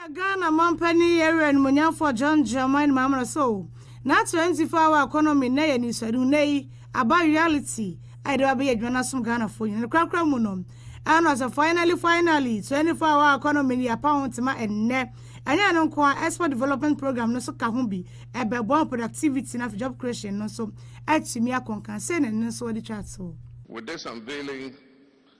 Sɛnea Ghana manpanin yɛ werɛ animuonyamfoɔ John Dramani Mahama sɛ o, n'akyerɛnkyefo Our Economy nnɛ yɛ anisoadehu, nnɛ yi aba reality a yɛde ba bɛyɛ adwuma no asom Ghanafoɔ nyinaa. Ne korakora mu no, ɛha no ɔsɛ finally finally, 24 Our Economy no yɛapa ho ntoma ɛnnɛ. Ɛnyɛ ɛno nko ara, Export Development Programme no nso ka ho bi, ɛbɛboa ma productivity no afei job creation no nso atumi akɔ nkan, sei na ɛno nso wɔde twaa toɔ. With this unveiling,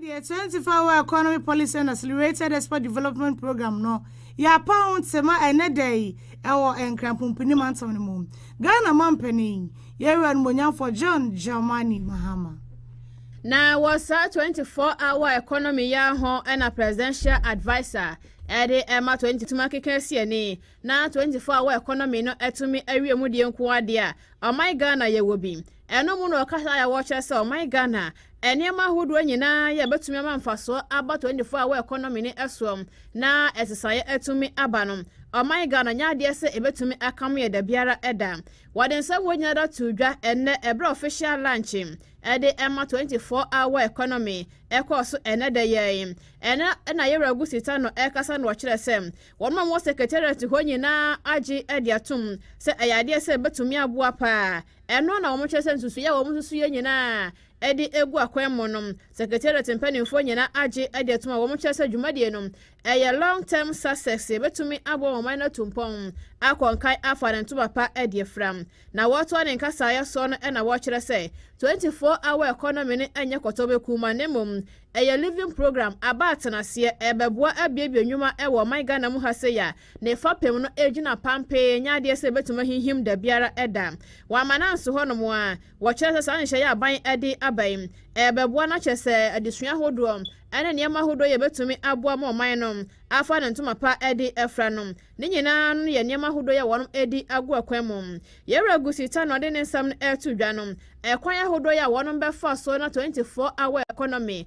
Afei deɛ, Twenty Four Hour Economic Policy and Accelerated Export Development Programme no, yɛapa ho tema ɛnnɛ da yi wɔ Nkranpompini mantam no mu. Ghana Mampanin, Yɛn Wura Animuonyamfoɔ John Dramani Mahama. Na wɔ saa Twenty Four Hour Economy yi ara ho na Presidential Adviser de rema Twenty Tumi akeka asi ani na Twenty Four Hour Economy no atumi awie mu deɛ nko ara deɛ a, ɔman Ghana yɛwɔ bi. Ɛno mu na ɔkasa yɛ a wɔkyerɛ sɛ ɔman Ghana nneɛma ahodoɔ nyinaa yɛ a ɛbɛtumi ama mfasoɔ aba 24 hour economy no ɛsoɔ na ɛsesaeɛ atumi aba no. Ɔman Ghana nyɛ adeɛ sɛ ɛbɛtumi akamo yɛ da biara da. Wɔde nsɛm wɔ nyinaa da too dwa ɛnnɛ ɛberɛ a official launch ɛde ɛma 24 hour economy ɛkɔɔ so ɛnnɛ da yi ara. Ɛnnɛ na Yɛwura Gusi Tanor ɛrekasa na ɔkyerɛ sɛ wɔn a wɔwɔ secretariat hɔ nyinaa agye ɛde atom sɛ ɛyɛ adeɛ sɛ ɛbɛtumi aboa paa Ɛno na wɔkyerɛ sɛ nsusuiɛ a wɔn nsusuiɛ nyinaa de agu akwan mu no, Secretariat mpanimfoɔ nyinaa agye adi atom a wɔkyerɛ sɛ dwumadie no yɛ long term success, yɛbɛtumi aboa wɔn man no atu mpɔn akɔ nkan afa ne ntoma pa adi afira. Na wɔtoa ne nkasaeɛ soɔ no na wɔkyerɛ sɛ 24 hour economy no nyɛ kɔtɔbɛ kumaa na mmom ɛyɛ living program, aba atenaseɛ, ɛrebɛboa abuebue nnwuma wɔ ɔman Ghana mu ha sei a Ne fapem no gyina pampee, ɛnyɛ adeɛ sɛ ɛbɛtumi ahinhim da biara da. Wɔama no anso hɔnom a, wɔkyerɛ sɛ saa nhyehyɛeɛ a aban de aba yi, ɛrebɛboa no akyɛ sɛ adesua ahodoɔ ne nneɛma ahodoɔ yi a ɛbɛtumi aboa ma ɔman no afa ne ntoma pa de afira no, ne nyinaa no yɛ nneɛma ahodoɔ yi a wɔde agu akwan mu. Yɛwura Gusita na ɔde ne nsɛm no reto dwa no, ɛkwan ahodoɔ yi a wɔbɛfa so na 24 hour economy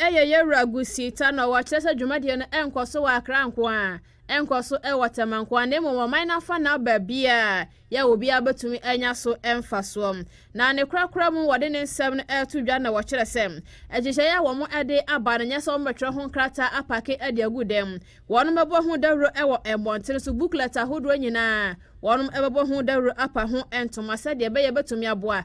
Ɛyɛ yɛn wura Gusiita na ɔkyerɛ sɛ dwumadie no nkɔ so wɔ Accra nko ara, nkɔ so wɔ Tema nko ara na mmom ɔman no afanaa baabiara yɛ obiara bɛtumi anya so mfasoɔ. Na ne korakora mu wɔde ne nsɛm no reto dwa na wɔkyerɛ sɛ nhyehyɛeɛ a wɔde aba no nyɛ sɛ wɔbɛtwerɛ ho nkrataa apake de agu dan mu, wɔbɛbɔ ho dawuro wɔ mmɔntene so, booklet ahodoɔ nyinaa wɔbɛbɔ ho dawuro apa ho ntoma sɛdeɛ ɛbɛyɛ ɛbɛtumi aboa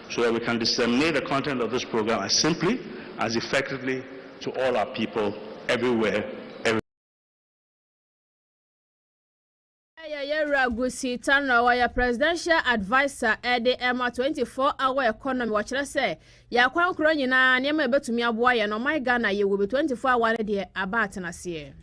so that we can disseminate the content of this program as simply as effectively to all our people everywhere every Ɛyɛ yɛn wura Gusi Tanra wɔyɛ presidential adviser ɛde ɛma 24 hour economy wɔkyerɛ sɛ yɛ akwankorɔ nyinaa nneɛma a ɛbɛtumi aboa yɛn ɔman Ghana yɛwɔ bi 24 hour no deɛ aba atenaseɛ.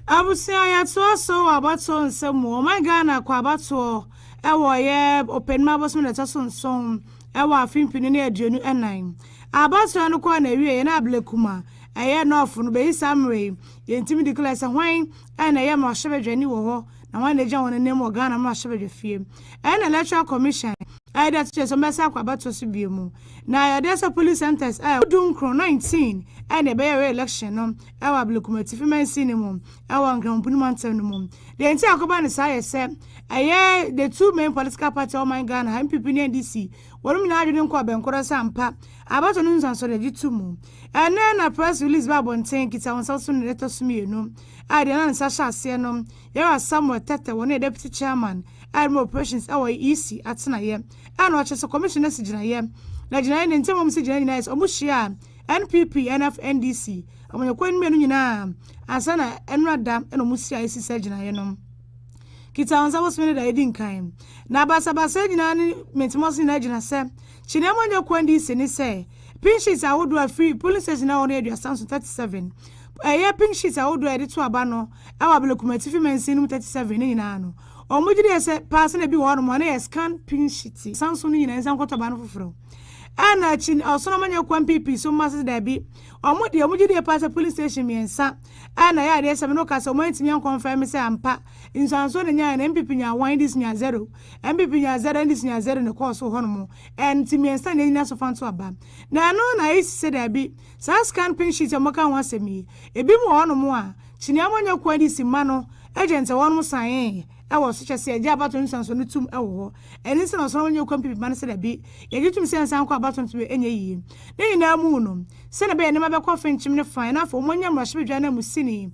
Abusua yɛtoa so wɔ abatoɔ nsɛm mu ɔman Ghana kɔ abatoɔ ɛwɔ ɔyɛ ɔpɛnima abosom da ɛtɔ so nson ɛwɔ afe mpenu ne aduonu ɛnan abatoɔ no kɔɔ n'awieɛ na Ablekuma ɛyɛ nɔɔfo no bɛyi saa mmerɛ yi yɛntumi declare sɛ hwan ɛna ɛyɛ mmarahyɛbadwani wɔ hɔ na hwan na agya wɔn anim wɔ Ghana mmarahyɛbadwafie ɛna electoral commission ɛyɛ de ato dwa sɛ wɔn bɛsan akɔ abatoɔ so bio mu na yɛdeɛ sɛ polling centres ɛyɛ du nkron nineteen ɛna ɛbɛyɛ reelection no wɔ Ablekuma Atifi Mansin no mu wɔ Nkramompuni Mantam no mu. Deɛ nti a akɔba no saa yɛ sɛ, ɛyɛ the two main political party a ɔman Ghana ha, NPP ne NDC, wɔnom nyinaa adwene nkɔ abɛnkorɔ sɛ ampa abatoɔ no nsunsuansoɔ no agye to mu. Ɛnnɛ na press release ba abɔnten, kita wo nsa so nnɛ ɛtɔ so mmienu a deɛ na ne nsa hyɛ aseɛ no, Yɛwura Samuel Tetteh, wɔno yɛ Deputy Chairman a ɛrema operations wɔ EC atenaeɛ a na ɔkyerɛ sɛ Commission no asi gyinaeɛ, na gyinaeɛ no ntam a wɔsi gyinaeɛ nyinaa yɛ sɛ wɔhyia a, NPP, NF, NDC, amanyɔkuo no mmienu nyinaa ansa na ɛnora da na wɔn siae si saa gyinaeɛ no. Kita wɔn nsa bosome no da ɛdi nkan. Na basabasayɛ nyinaa ne mentemɔse nyinaa gyina sɛ kyeneɛ amanyɔkuo NDC ne sɛ pink sheets ahodoɔ a ɛfiri polling station a ɛwɔ no Aduasa nso 37 ɛyɛ pink sheets ahodoɔ a yɛde to aba no ɛwɔ Abelekum Atifi Mansin no mu 37 ne nyinaa no wɔn gye deɛ sɛ paa sɛ na ebi wɔ hɔ nom a na yɛ scan pink sheet sanso no nyinaa nsa nkɔtɔ aba no foforɔ. Ɛna akyi no, ɔsono ma nyɛ kwan pii pii so ma sɛ daabi. Ɔmo deɛ, ɔmo gye die paa sɛ police station mmiɛnsa ɛna yɛ adeɛ sɛ me no ka sɛ ɔmo antumi ankɔ mfɛn me sɛ ampa nsuansoɔ na nyaeɛ no NPP nyaa one ndc nyaa zero NPP nyaa zero ndc nyaa zero na ɛkɔɔ so hɔ nom ɛn nti mmiɛnsa na ɛnyina so fa nto aba na ɛno na ayisi sɛ daabi saa scan pin sheet a ɔmo ka ho asɛm yi ebi mu wɔ hɔ nom a kyineɛ ɔmo nyɛ kwan de si ma no agent a wɔnom saeɛ wɔ so kyerɛ sɛ yɛgye abatow nsunsuanso no tom wɔ hɔ. Ɛno nti na ɔsɔre wɔ nyɛ kwan pii ma no sɛ dabi, yɛgye tom sɛ nsan kɔ abatow nto yɛ nyɛ yiye. Ne nyinaa mu no, sɛnea ɛbɛyɛ nneɛma bɛkɔ fenkyem ne fann na afei wɔanya mmarahyɛbadwa ananmusini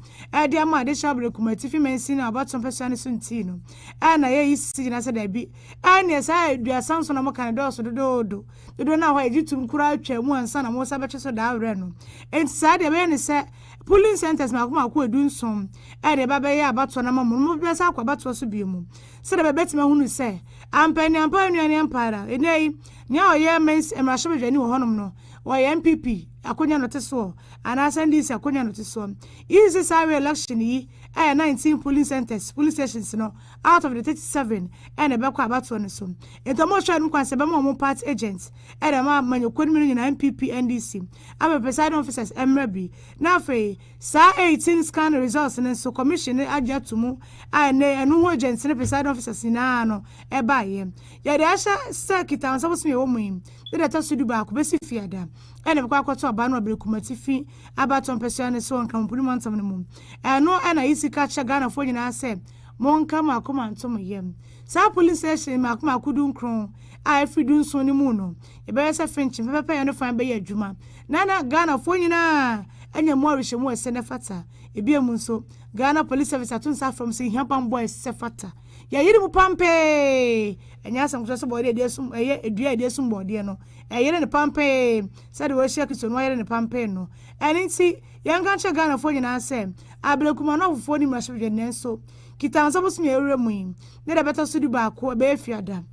de ama adehye abere kumaa atifi mansin a abatow mpasua no so nti no, ɛɛ na yɛayi sisi gyina sɛ dabi, ɛnneɛ saa aduasa nson a moka no dɔɔso dodoodo, dodoɔ no a hɔ a yɛgye tom koraa twaa mu ansa na moresan bɛtwe so daa werɛ no. Enti saa deɛ ɛbɛyɛ ne sɛ, Polling centres mmaako mmaako a edu nson de reba abɛyɛ abatoɔ no ama wɔn, wɔn bɛsan akɔ abatoɔ so bio mu sɛdeɛ bɛbɛtumi ahunu sɛ ampa ne ampa anua ne ampa ara. Nnɛ yi, nea ɔyɛ mmarahyɛbadwani wɔ hɔnom no, ɔyɛ NPP akonnwa na ɔte soɔ anaasɛ NDC akonnwa na ɔte soɔ. Eyi nti saa re-election yi ɛyɛ nineteen polling centres, polling stations, no out of the thirty seven na ɛbɛkɔ abatoɔ no so. Enti wɔrehwɛ wɔn kwan sɛ ɛbɛma wɔn party agents de ama amanyɔkuo no mmienu nyinaa, NPP, NDC. ama presiding officers mmra bi, na afei saa 18 scan results no nso commission no agye ato mu a ɛnnɛ ɛno ho agents ne presiding officers nyinaa no ɛbaeɛ. Yɛde ahyɛ sɛ Kita Wo Nsa bosome a ɛwɔ mu yi ne deɛ ɛtɔ so dubaako bɛsi Fiada na ɛbɛkɔ akɔto aba no wɔ Bere Kumatifi Abatoɔ mpasua no so wɔ Nkramompuni mantam no mu. Ɛno na yisi ka kyerɛ Ghanafoɔ nyinaa sɛ monka mo akoma nto mo yam. Saa polling station mmaako mmaako dunkron a ɛfiri dunson no mu no, Ɛbɛyɛ sɛ Finch mpɛpɛpɛyɛ no fã bɛyɛ adwuma na na Ghanafoɔ nyinaa anya mu awerehyɛmu a ɛsɛ na ɛfata. Ebiem nso, Ghana Police Service ato nsa afrɛ mo sɛ yɛhia bammɔ a ɛsɛ fata. Yɛayere mu pampee! Ɛnyɛ asɛm ketewa sɛ bɔɔdeɛ a yɛde asum ɛyɛ dua a yɛde asum bɔɔdeɛ no ɛyere no pampee sɛdeɛ wɔahyira Kristo no ayere no pampee no. Ɛno nti, yɛnka nkyerɛ Ghanafoɔ nyinaa sɛ, Abena Kuma no afoforɔ nni mmarahyɛbadwa nanso Kitansa bosome a yɛwura mu yi ne deɛ ɛbɛtɔ so dubaako, ɛbɛyɛ Fiada.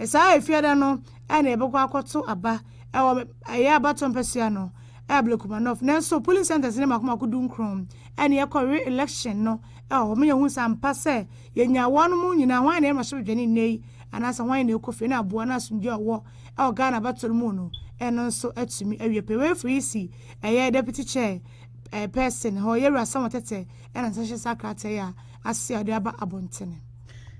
Saa Fiada no, na yɛbɛkɔ akɔto aba wɔ ɛyɛ abatoɔ mpɛsoa no ɛwɔ Blekumanɔf nanso polling centres ne mako mako dunkron ɛna yɛkɔ re election no ɛwɔ hɔ ma yɛhu sɛ ampa sɛ yɛnya wɔn mo nyinaa hwan na ɛma hyɛbadwane nnɛ yi anaasɛ hwan na ɛkɔ fie na aboa na asomdwe a ɔwɔ ɛwɔ Ghana abatoɔ no mu no ɛno nso atumi awie pɛ wei firi si ɛyɛ deputy chair person hɔ yɛwura sɛ wɔn tɛtɛ ɛna nsa hyɛ saa krataa yi a ase a ɔde aba abɔntene.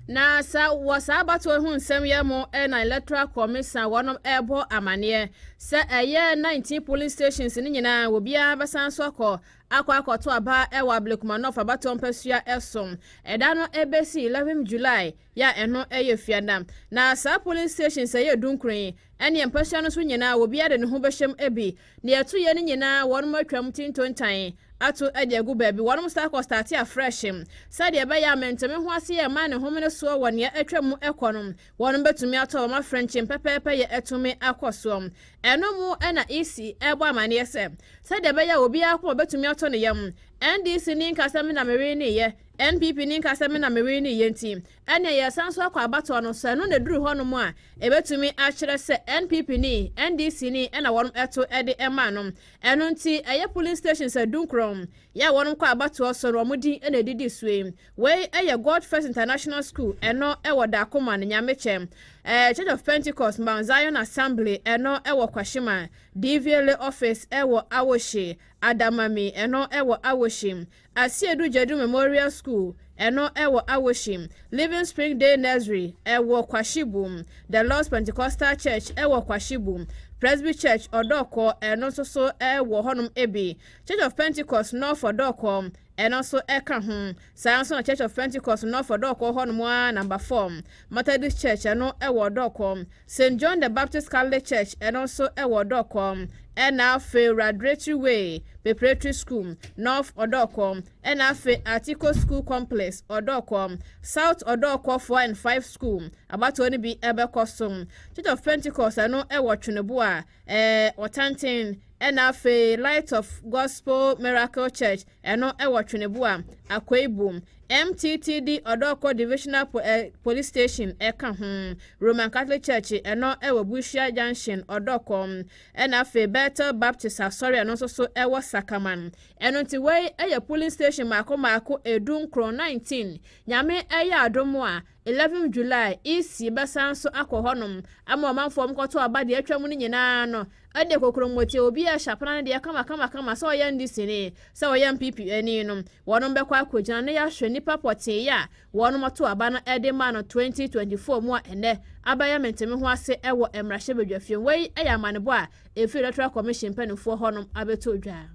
Na sa wɔ saa abatoɔ yi ho nsɛm yɛ mo na electoral commission wɔnom ɛbɔ amaneɛ sɛ ɛyɛ 19 polling stations no nyinaa obiara bɛsan so akɔ akɔ akɔto aba ɛwɔ Ablekuma North abatoɔ mpasua ɛso ɛda no ɛbɛsi 11 July yɛ a ɛno ɛyɛ fiada na saa polling stations ɛyɛ dunkron yi ɛneɛ mpasua no so nyinaa obiara de ne ho bɛhyɛm ɛbi Nea ɛto yɛ no nyinaa wɔnom atwam ti ntontan ato de agu baabi. Wɔnom staa kɔ starte afresh sɛdeɛ ɛbɛyɛ a mentome ho ase yɛ mmaa ne homene soɔ wɔ nea atwam mu kɔ no. Wɔnom bɛtumi ato wɔn afrenkyen pɛpɛɛpɛ yɛ atumi akɔ soɔ. Ɛno mu na EC ɛrebɔ amaneɛ sɛ sɛdeɛ ɛbɛyɛ a obiara akoma bɛtumi atɔ ne yam. NDC ni nka sɛ me na meweneeɛ, NPP ni nka sɛ me na meweneeɛ nti Ɛnneɛ yɛresan nso akɔ abatoɔ no, sɛ ɛno na ɛduru hɔnom a, ɛbɛtumi akyerɛ sɛ NPP ni, NDC ni na wɔto de maa no. Ɛno nti, ɛyɛ polling stations adunkron yɛ a wɔnom kɔ abatoɔ so no, wɔn din na ɛdidi so yi. Wei yɛ God First International School, ɛno wɔ Dakoman, Nyamekyɛ. Eh, Church of Pentecost, Mount Zion Assembly, ɛno wɔ Kwashima. Dvla Office wɔ Awohye. Adamami, ɛno wɔ Awohye. Asiedu Gyadu Memorial School, ɛno ɛwɔ Awoshim, Living Spring Day Nursery ɛwɔ Kwashibu, The Lord's Pentecostal Church ɛwɔ Kwashibu, Presby Church Odorkor ɛno nso so ɛwɔ hɔnom bi, Church of Pentecost North Odorkor ɛno nso ɛka ho, saa ara nso na Church of Pentecost North Odorkor hɔnom ara Number 4. Methodist Church, ɛno wɔ Dɔkɔ. Saint John the Baptist Catholic Church, ɛno nso wɔ Dɔkɔ. Ɛna afei Radretry Way Preparatory School, North Ɔdɔkɔ. Ɛna afei Article School Complex, Ɔdɔkɔ. South Ɔdɔkɔ Four and Five School, abatoɔ no bi bɛkɔ so. Church of Pentecost, ɛno wɔ Tweneboa. Ɛɛ, Ɔtenten, ɛna afei Light of Gospel Miracle Church, ɛno ɛwɔ Tweneboa, Akoibom. MTTD Ɔdɔɔkɔ Divisional po ɛ Police Station ɛka ho. Roman Catholic Church, ɛno ɛwɔ Busia Junction, Ɔdɔɔkɔ. Ɛna afei Bethel Baptist Asɔre, ɛno nso so ɛwɔ Sakaman. Ɛno nti wei ɛyɛ Polling Station mmaako mmaako ɛdu nkron, nineteen. Nyame ɛyɛ adom a, 11 July, EC, bɛsan nso akɔ hɔnom ama ɔmanfoɔ nkɔto aba deɛ atwa mu no nyinaa no de kokromoti obi a hyɛ apena no deɛ kamakamakama sɛ ɔyɛ NDC ni, sɛ ɔyɛ NPP ni no, wɔnom bɛkɔ akɔgyina na yɛahwɛ nnipa pɔtee a wɔnom to aba no de ma no 2024 mu a ɛnnɛ abɛyɛ mentemeho ase wɔ mmarahyɛbadwafie. Wei yɛ amanebɔ a Efi Electoral Commission mpanimfoɔ hɔnom abɛto dwa.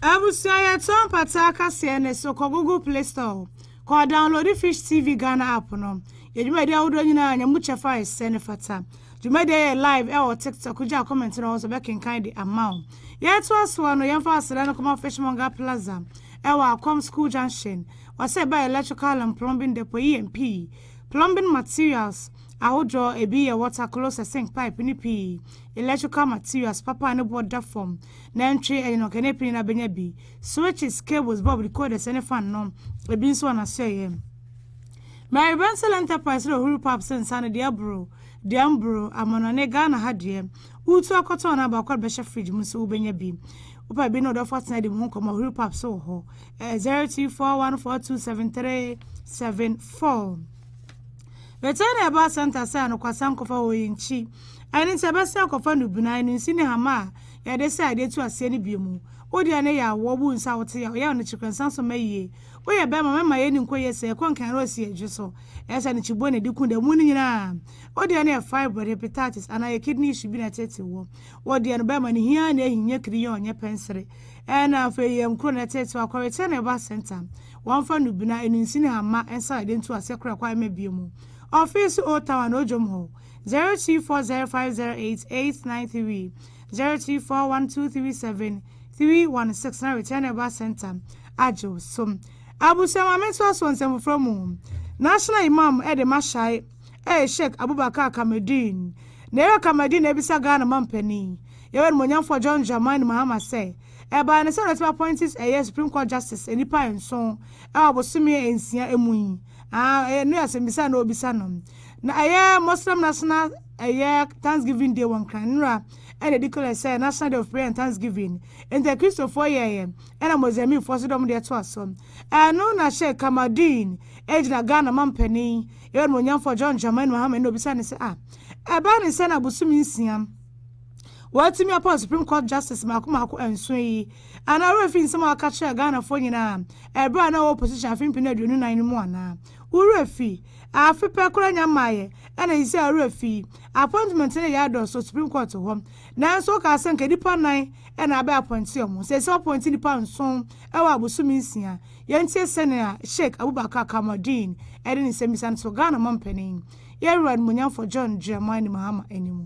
Abusua yɛtɔ mpataa kaseɛ ne so kɔ google play store kɔ downloadi fish tv Ghana app no yɛ dwumadi ahodoɔ nyinaa nya mu kyɛfa a ɛsɛ ne fata dwumadi a yɛyɛ live ɛwɔ tiktok gya comment no hɔ nso bɛkenkan de ama wo yɛtoa soɔ no yɛmfa aseda no kɔma fishmonger plaza ɛwɔ akɔm school junction wɔsɛ ɛba electrical and plumbing depot yi yɛn pii plumbing materials ahodoɔ ebi yɛ water closet sink pipe ne pii electrical materials papa a ne boɔ da fam, nantwie ɛde na ɔkɛne apini na abɛnya bi, switches, cables, bulb, decoders ne fan no, ebi nso wɔ n'asoɛeɛ. Mary Bensel Enterprise na ɔhuri pap sɛ nsa no deɛ aboro, deɛ mboro, amanɔne, Ghana ha deɛ, woretu akɔtɔn na baako de bɛhyɛ fridge mu nso wobɛnya bi. Wopɛ bi ne wo dɔfo atena adi mo ho nkɔmmɔ a, ɔhuri pap so wɔ hɔ. Ɛyɛ 0241427374. Bɛtɛn na ɛbaa center sɛ anokwasɛm kɔfa hɔ yi nkyi. Ɛne sɛ ɛbɛsan akɔfa nnubunan no nsi ne hama a yɛde sɛ ade to aseɛ no bio mu. Wo deɛ ne yɛ awoɔ wo nsa a wote yaw yaw no kyekerɛ nsa so ma yie. Woyɛ bɛɛma mɛma yɛ ni nkɔ yie sɛ ɛkɔ nkan rose yɛ dwe so. Ɛyɛ sɛ ne kyiboɔ na ɛdi ku da mu no nyinaa. Wo deɛ ne yɛ fibroid, hepatitis anaa yɛ kidney issue bi na ɛteetee woɔ. Wo deɛ no bɛɛma ne hiaa na ɛhi nyɛ kiri yɔɔ nyɛ pɛnsere. Ɛna afei yɛ nkuro na ɛteetee wo a kɔ return ne ba centre. Wɔn fa nnubunan no nsi ne hama nsa a yɛde nto aseɛ kora kɔ a ɛma bio mu. Ɔfeese old town anaa odwom hɔ. zero two four zero five zero eight eight nine three zero two four one two three seven three one six na return a ba center agyew so abusua maame ntoa so nsɛm foforɔ mu national imam ɛde ma hyɛe ɛyɛ sheikh abubakar kamadin na ɛyɛ kamadin na ebisa ghana ma mpanin yɛwɛ no monyamfoɔ john dramani mahama sɛ ɛbaa ne sɛ ɔdɛtɛm appointees ɛyɛ supreme court justice nnipa nson ɛwɔ bosome nsia emu yi Ah, ɛyɛ no yɛ asɛmbisa a na obisa no. Na ɛyɛ Muslim National ɛyɛ Thanksgiving Day wɔ Nkran nnura ɛna edi kɔ yɛ sɛ National Day of Prayer and Thanksgiving. Enti Akristofoɔ yɛeɛ ɛna Mozambiquefoɔ nso de wɔn deɛ toa so. Ɛno na Sheikh Kamaldeen egyina Ghana mampanin yɛn Onimuonyamfoɔ John Dramani Mahama ɛna obisa no sɛ ah, ɛbaa ne sɛn na bosome nsia, wɔatumi apɔn Supreme Court Justice mmaako mmaako nson yi, anaa wo werɛ fi nsɛm a wɔka kyerɛɛ Ghanafoɔ nyinaa bere a na ɔwɔ opposition afe mpem aduonu nan no mu anaa? Wo werɛ fi? Afe pɛ koraa nya mmaeɛ ɛna seisei wo werɛ fi? Appointment no yɛɛ dɔɔso wɔ Supreme Court hɔ nanso wokaa sɛ nka nnipa nan na abɛ appointe wɔn, seisei wɔappointe nnipa nson wɔ abosome nsia. Yɛntie sɛnea Sheik Abubakar Kamaldeen de ne nsɛmmisa no to Ghana Mampanin, Yɛn Wura Animuonyamfoɔ John Dramani Mahama anim.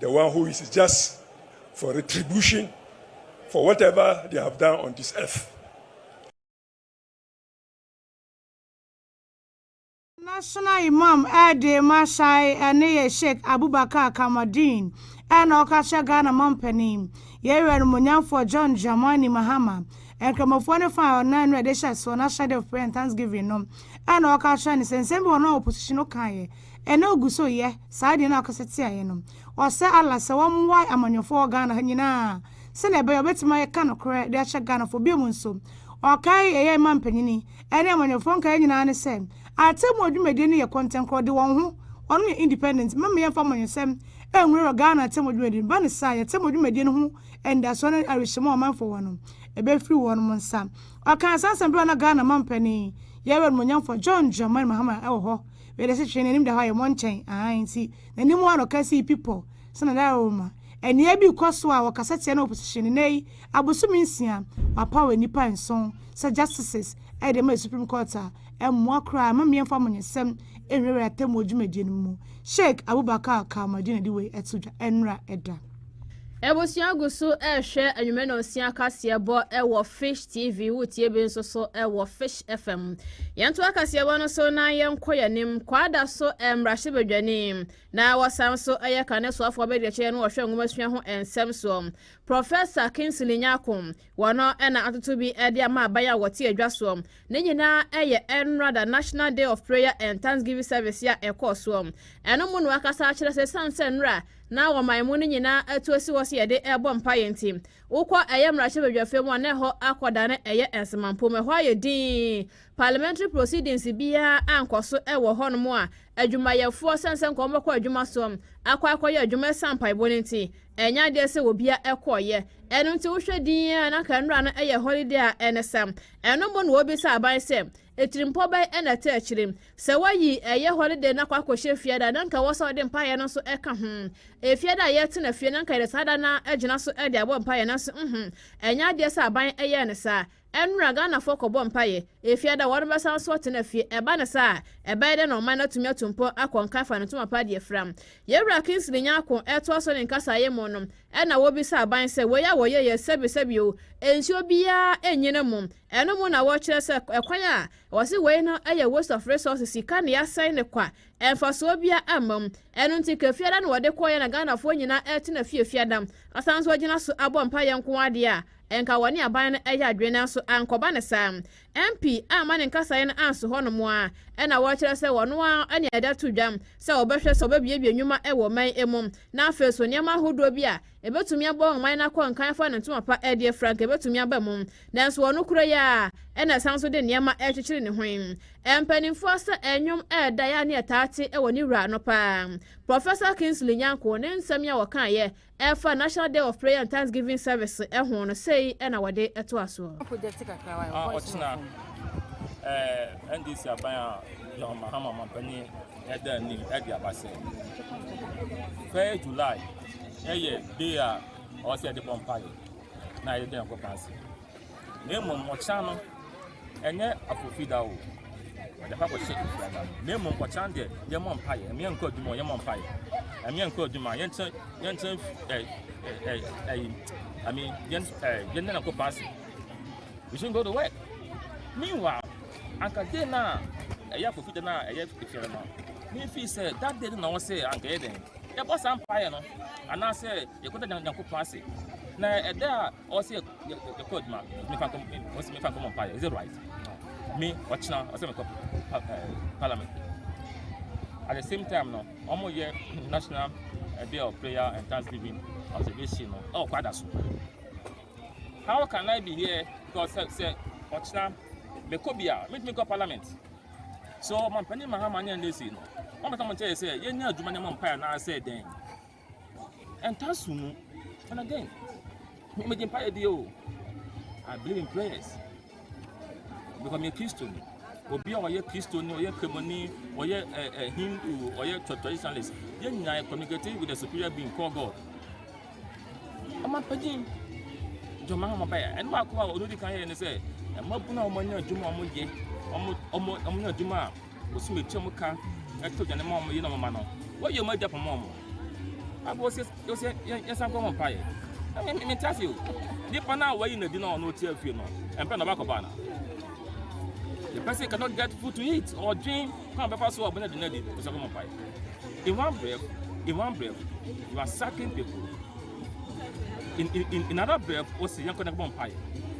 the one who is just for retribution for whatever they have done on this earth. National Imam ɛde ma hyɛe ɛne yɛ Sheikh Abubakar Kamaldeen ɛna ɔka kyerɛ Ghana mampanin, yɛn wura animuonyamfoɔ John Dramani Mahama, Nkramofoɔ no fa a ɔnam no ɛde hyɛ soɔ n'ahyɛde of prayer and thanksgiving no ɛna ɔka kyerɛ no sɛ nsɛm bi wɔ hɔ no a opposition no kaeɛ, Ɛnɛ ogu so yɛ saa deɛ na ɔkasa tia yɛ no. Ɔsɛ Allah sɛ wɔn mmoae amanyɔfoɔ wɔ Ghana ha nyinaa sɛdeɛ ɛbɛyɛ ɔbɛtumi ayɛ ka nokorɛ de akyɛ Ghanafoɔ. Biom nso, ɔkae ɛyɛ mma mpanyini ɛne amanyɔfoɔ nkaeɛ nyinaa ne sɛ atemmuo dwumadie no yɛ kɔntɛnkorɔ de wɔn ho wɔnom yɛ independent mma yɛmfa amanyɔsɛm ɛnwura Ghana atemmuo dwumadie no ba ne saa yɛtemmuo dwumadie no ho anidasoɔ ne awerɛhyɛmu a ɔmanfoɔ wɔ no ɛbɛfiri wɔnom nsa. Ɔkaa saa nsɛm berɛ a na Ghana mampanin, Yɛn Animuonyamfoɔ John Dramani Mahama wɔ hɔ. Wei de sekyeree n'anim da hɔ ayɛ mɔnkyɛn, aane, nti n'anim ara na ɔka sii pi pɔ sɛ na dada wɔ mu ma. Aniɛ bi rekɔ so a wɔkasa tia no wɔ position no. Nnɛ yi, abosome nsia, wɔapaw nnipa nson sɛ justices de ama Supreme Court a ɛmmoa koraa mma meɛmfa amanyɛsɛm nnwiriwiri atemmuo dwumadie no mu. Sheikh Abubakar Kamaldeen na ɛde wei to dwa nnora da. Abusua gu so rehwɛ anwummerɛ nonsia kaseɛbɔ wɔ Fish TV wotie bi nso so wɔ Fish FM. Yɛnto akaseɛbɔ no so na yɛnkɔ yɛn anim. Kwaada so mmarahyɛbadwani na wɔsan nso yɛ kane soafoɔ abadiakyerɛ no wɔhwɛ nwomasua ho nsɛm soɔ. Professor Kingsley Nyako wɔn na atoto bi de ama aban a wɔte adwa soɔ. Ne nyinaa yɛ NRADA National Day of Prayer and Thanksgiving Service a ɛkɔɔ soɔ. Ɛno mu na wakasa akyerɛ sɛ sane sɛ nnora na wɔma emu no nyinaa atu asi hɔ sɛ yɛde rebɔ mpaeɛ nti. Wokɔ ɛyɛ mmarahyɛbadwafie mu a na ɛhɔ akɔdane ɛyɛ nsemanpom. Ɛhɔ ayɛ dinn. Parliamentary proceedings biara ankɔ so wɔ hɔnom a adwumayɛfoɔ sane sɛ nka wɔmmɛkɔ adwuma soɔ akɔ akɔyɛ adwuma ɛsiane mpaebɔ no nti. Ɛnyɛ adeɛ sɛ obiara kɔeɛ. Ɛno nti wohwɛ dinn a na anka nnora no yɛ holiday a ɛne sɛ. Ɛno mmom na wɔbisa aban sɛ Atirimpɔ bɛn na ɛte akyire? Sɛ wɔayi ɛyɛ holiday no akɔ akɔhyɛ fie ada a, na anka ɛwɔ sɛ wɔde mpaeɛ no nso ka ho. Efie ada a yɛtena fie no, anka yɛde saa da no ara gyina so de abɔ mpaeɛ, nanso nhu, ɛnyɛ adeɛ sɛ aban yɛɛ no saa. Ɛnnora, Ghanafoɔ kɔbɔ mpaeɛ. Efie ada a wɔbɛsan nso atena fie, ɛba no saa a, ɛbɛyɛ dɛn na ɔman no atumi atu mpɔn akɔ nkae fa ne ntoma pa de afira? Yɛn Wura Kingsley Nyarko retoa so ne nkasaeɛ mu no, Ɛnna wobisaa aban sɛ, Wei a wɔyɛe yɛ sɛbesɛbe o, ansi obiara nnye no mmom. Ɛno mu na wɔkyerɛ sɛ kwan a wɔse wei no yɛ waste of resources, sika nea asɛe ne kwa, mfasoɔ biara mma mu. Ɛno nti Kafiada no wɔde kɔeɛ na Ghanafoɔ nyinaa retena fie Fiada asan nso agyina so abɔ mpaeɛ nko ara deɛ a, nka wɔne aban no yɛ adwene nanso ankɔba no saa. MP a ama ne nkasaeɛ no anso hɔnom ara na wɔkyerɛ sɛ wɔno ara na ɛda to dwam sɛ wɔbɛhwɛ sɛ wɔbɛbuebue nnwuma wɔ ɔman mu na afei nso nneɛma ahodoɔ bi a ɛbɛtumi abɔ ɔman no akɔnkan afa no ntoma pa deɛ frank ɛbɛtumi aba mu nanso wɔ nokorɛ yi ara na ɛsan so de nneɛma rekyekyere ne ho yi mpanimfoɔ sɛ ɛnwom ɛda yɛ a ne yɛtaa te wɔ ne wura no paa Professor Kingsley Nyarko ne nsɛm yi a wɔkaeɛ Ɛfa National Day of Prayer and Thanksgiving Service ho no, sei na wɔde toa so. A Ɔkyena, ɛɛ NDC aban a John Mahama manpanin ɛda anim ɛde aba sɛ, Third July ɛyɛ day a ɔwɔ sɛ yɛde bɔ mpaeɛ na yɛda Nyankopɔn ase. na mmom ɔkyan no ɛnyɛ afofida o ɔde kɔ akɔhyɛ efiada no na mmom ɔkyan deɛ yɛmmɔ mpaeɛ ɛmeɛ nkɔ adwuma yɛmmɔ mpaeɛ ɛmeɛ nkɔ adwuma yɛnkyɛ yɛnkyɛ ɛɛ ɛɛ ɛɛ I mean yɛn ɛɛ yɛn nana kɔ paase we should go to work meanwhile anka day na ɛyɛ afofida na ɛyɛ efiada no me fi sɛ that day na wɔn sɛ anka yɛ dɛn yɛbɔ saa mpaeɛ no anaasɛ yɛkɔda nyankopɔn ase na ɛda a ɔsɛ yɛ yɛ kɔ adwuma mi fa nkɔm ɔsɛ mi fa nkɔm mpa yɛ is it right mi ɔkyina ɔsɛ mi kɔ pa ɛɛ eh, parliament at the same time no ɔmo yɛ national eh, day of prayer and thanksgiving observation no ɛwɔ kɔ ada so how can i be here because sɛ sɛ ɔkyina mi kɔ bi a mi tumi kɔ parliament so ɔmɔ mpanyin mahama ne ɛnɛ si no ɔmɔ tɔmɔ nkyɛn sɛ yɛ nyɛ adwuma ne mo mpa yɛ anaasɛ dɛn. ɛntaa so mu and again me megye mpaeɛ die o I believe in prayers because meyɛ kristoni obi a ɔyɛ kristoni ɔyɛ kremoni ɔyɛ ɛ ɛ hindu ɔyɛ traditionalist yɛn nyinaa yɛ communicating with the superior being called God ɔmo apagyin jɔnma ɔmo bɛyɛ ɛno baako a ɔno di kan yɛ ne sɛ ɛmo abunu a ɔmo anya adwuma a ɔmo yɛ ɔmo ɔmo ɔmo nya adwuma a. Wɔsum atua mu ka tɔ aduane ma wɔn yerenom mma no. Wɔyɛ wɔn agya poma wɔn. Bible sɛ yɛsɛ yɛnsan kɔ ho mpaeɛ. Na me mente ase o. Nipa no a wɔayi no adi na ɔno ɔte afie no, ɛmpɛ na ɔbɛkɔ baa no. The person cannot get food to eat. Ɔdwen kwan bɛfa so a ɔbɛnya aduane adi. Wɔsɛ kɔ ho mpaeɛ. In one breath, in one breath, you are sucking people. In, in, in another breath, wɔsɛ yɛnkɔ na ɛbɔ mpaeɛ.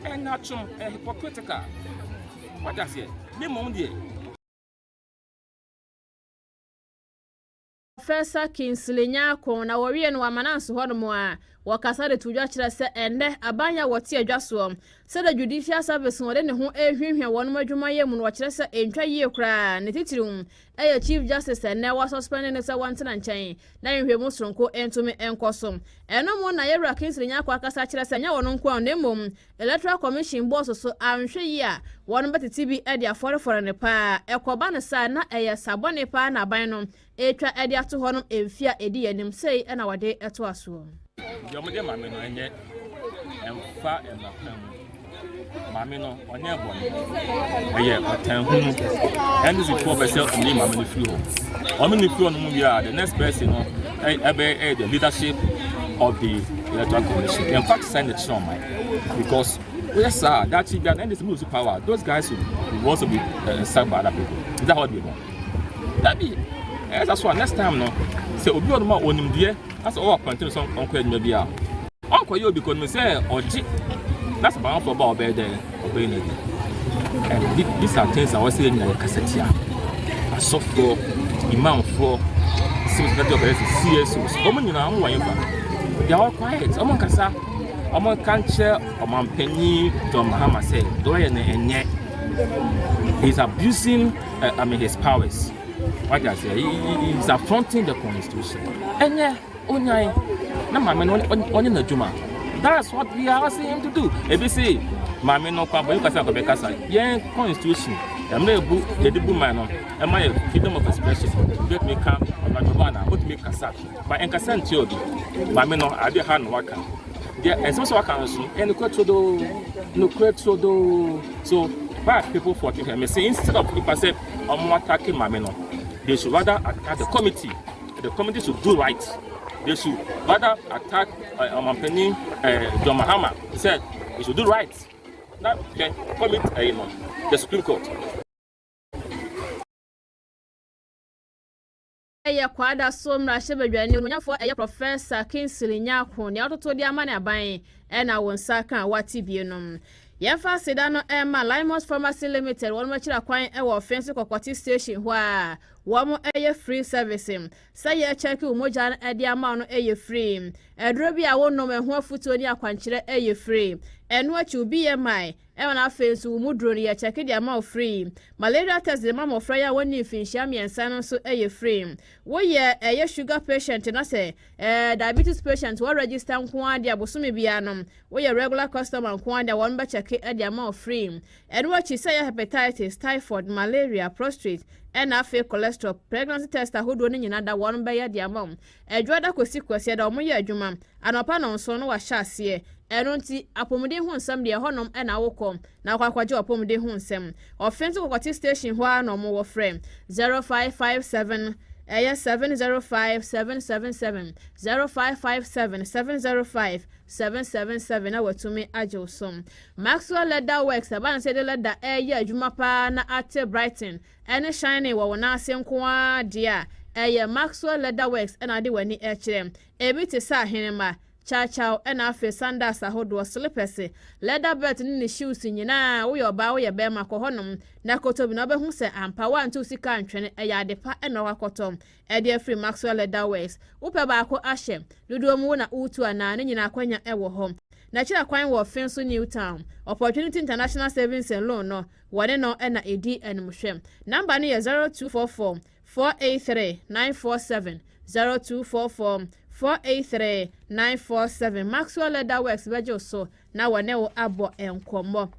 Ɛnatwom, ɛhypocritical. Wate aseɛ? Ne mmom deɛ. Professor Kingsley Nyarko, na wɔwiee no wɔ Amananse hɔnom a wɔkasa de too dwa kyerɛ sɛ ɛnnɛ aban yi a wɔte adwa soɔ, sɛ the Judicial Service no, wɔde ne ho rehuahua wɔnom adwumayɛ mu no wɔkyerɛ sɛ ɛntwa yie koraa, ne titiriw ɛyɛ Chief Justice a ɛnnɛ wɔasuspɛnde no sɛ wɔntena nkyɛn na nhwehwɛmu soronko ntumi nkɔ so. Ɛno mu na Yawura Kingsley Nyarko akasa akyerɛ sɛ ɛnyɛ ɔno nko ara na mmom Electoral Commission bɔɔ so so anhwɛ yie a, wɔn bɛtete bi de afɔrefɔre no paa. Ɛkɔba no saa a, na ɛyɛ sa bɔne paa na aban no retwa de ato hɔ no mfeɛ a ɛdi yɛn anim sei na wɔde toa soɔ. Deɛ wɔde ma me no ɛnyɛ ɛmfa mma kwan mu. Maame no ɔnyɛ bɔne. Ɛyɛ ɔtan hunu. NDC foɔ pɛ sɛ wɔyi maame no firi hɔ. Wɔn no firi hɔ no mu wie a, the next person no ɛbɛ the leadership of the electoral commission yɛn fa sɛ ne kyerɛ ɔman because woyɛ saa daakye bia na ndc mu lose power those guys will, will also be uh, sacked by other people is that how they want dabi ɛyɛ sa so a next time no sɛ obi wɔ no ma onimdeɛ asɛ ɔwɔ apɔnten sɛ ɔnkɔ adwuma bi a Ɔnkɔyɛ obi kɔ no mu sɛ ɔgye na sɛ bamafo ba ɔbɛyɛ dɛ ɔbɛyɛ no bi. And th these are things a wɔsɛ yɛ nyinaa yɛkasa tia. Asɔfoɔ, imamfoɔ, civil society organizers, CSOs, wɔn nyinaa wɔn wɔ yɛn fa. They are all quiet, wɔn nkasa. Wɔn nka nkyerɛ ɔmampanyin John Mahama sɛ deɛ ɔyɛ no ɛnyɛ. He is abusing uh, I mean his powers. What I say, he, he, he is affronting the constitution. Ɛnyɛ. Onyan na maame no ɔnyɛ n'adwuma. That's what we are asking him to do. Ebi se maame no kwa bɔyɛ kasa akɔbɛ kasa. Yɛn constitution ɛmɛ ebu yɛde bu man no ɛma yɛ freedom of expression. Get me ka ɔnadɔba ana wotumi kasa ba ɛnkasa nti obi. Maame no ade ha no waka. Deɛ ɛnsɛm sɛ waka nso ɛne kura turo doo no kura turo doo. So why people for thinking? Me say instead of nipa sɛ ɔmo attack maame no they should rather attack the committee. The committee should do right. They should rather attack uh, Omampani uh, John Mahama. He said they should do right. Now, okay, commit uh, you know, the Supreme Court. ɛyɛ kwada so mmarahyɛbadwani onyafoɔ ɛyɛ professor kingsley nyako nea ɔtoto de ama ne aban ɛna wɔn nsa ka wate bie nom yɛmfa aseda no ɛma limos pharmacy limited wɔn akyira kwan ɛwɔ ɔfɛn so kɔkɔte station hɔ a Wɔn ɛyɛ free service. Sɛ yɛ check wo mogya no ɛde ama wo no ɛyɛ free. Aduro bi a wo nom ɛho afutuo ne akwankyerɛ ɛyɛ free. Ɛno akyi wo BMI ɛna na afei nso wo mu duro no yɛ check de ama wo free. Malaria test de ma mmɔfra yi a wɔn ni mfinhyia mmiɛnsa no nso ɛyɛ free. Wo yɛ ɛyɛ sugar patient na sɛ ɛɛ diabetes patient wɔ register nko ara de a bosome biara no wo yɛ regular customer nko ara de a wɔn bɛ check ɛde ama wo free. Ɛno akyi, sɛ ɛyɛ hepatitis, typhoid, malaria, prostrate, ɛna afei cholesterol, pregnancy test ahodoɔ no nyinaa da wɔn bɛyɛ de ama wo. Adwoada kɔsi Kwasiada wɔn yɛ adwuma, anɔpa nnɔnson na wɔahyɛ aseɛ. Ɛno nti, apomuden ho nsɛm deɛ ɛhɔ nom na wo kɔ na wakɔ akɔgye w'apomuden ho nsɛm. Ɔfe nso kɔkɔte station hɔ ara na wɔn wɔ frɛ 0557 ɛyɛ 705 777 0557 705 777 na watumi agye wo so. Maxwell Leather Works a Banse de lɛda reyɛ adwuma paa na ate Brighton ne Shining wɔ wo nan ase nko ara deɛ a, ɛyɛ Maxwell Leather Works na wode w'ani rekyerɛ. Ebi te sɛ ahenemma, kyawkyaw na afei sandals ahodoɔ, slipɛse, leather belt ne ne shoes nyinaa, woyɛ ɔbaa woyɛ barima kɔ hɔnom na kɔtɔ bi na wobɛhu sɛ ampa woantew sika antwene, ɛyɛ adepa na wakɔtɔ. Ɛdeɛ firi Maxwell Leather Works. Wo pɛ baako ahyɛ? Dodoɔ mu wo na wo tu anaa? Ne nyinaa akwanya wɔ hɔ. Na kyerɛ kwan wɔ fin so New Town. Ɔpɔtwe no ti International Savings and Loan no, wɔne no na ɛdi animhwɛ. Number no yɛ zero two four four four eight three nine four seven, zero two four four four eight three nine four seven. Maxwell Leather Works bɛgye wo so na wɔne wo abɔ nkɔmmɔ.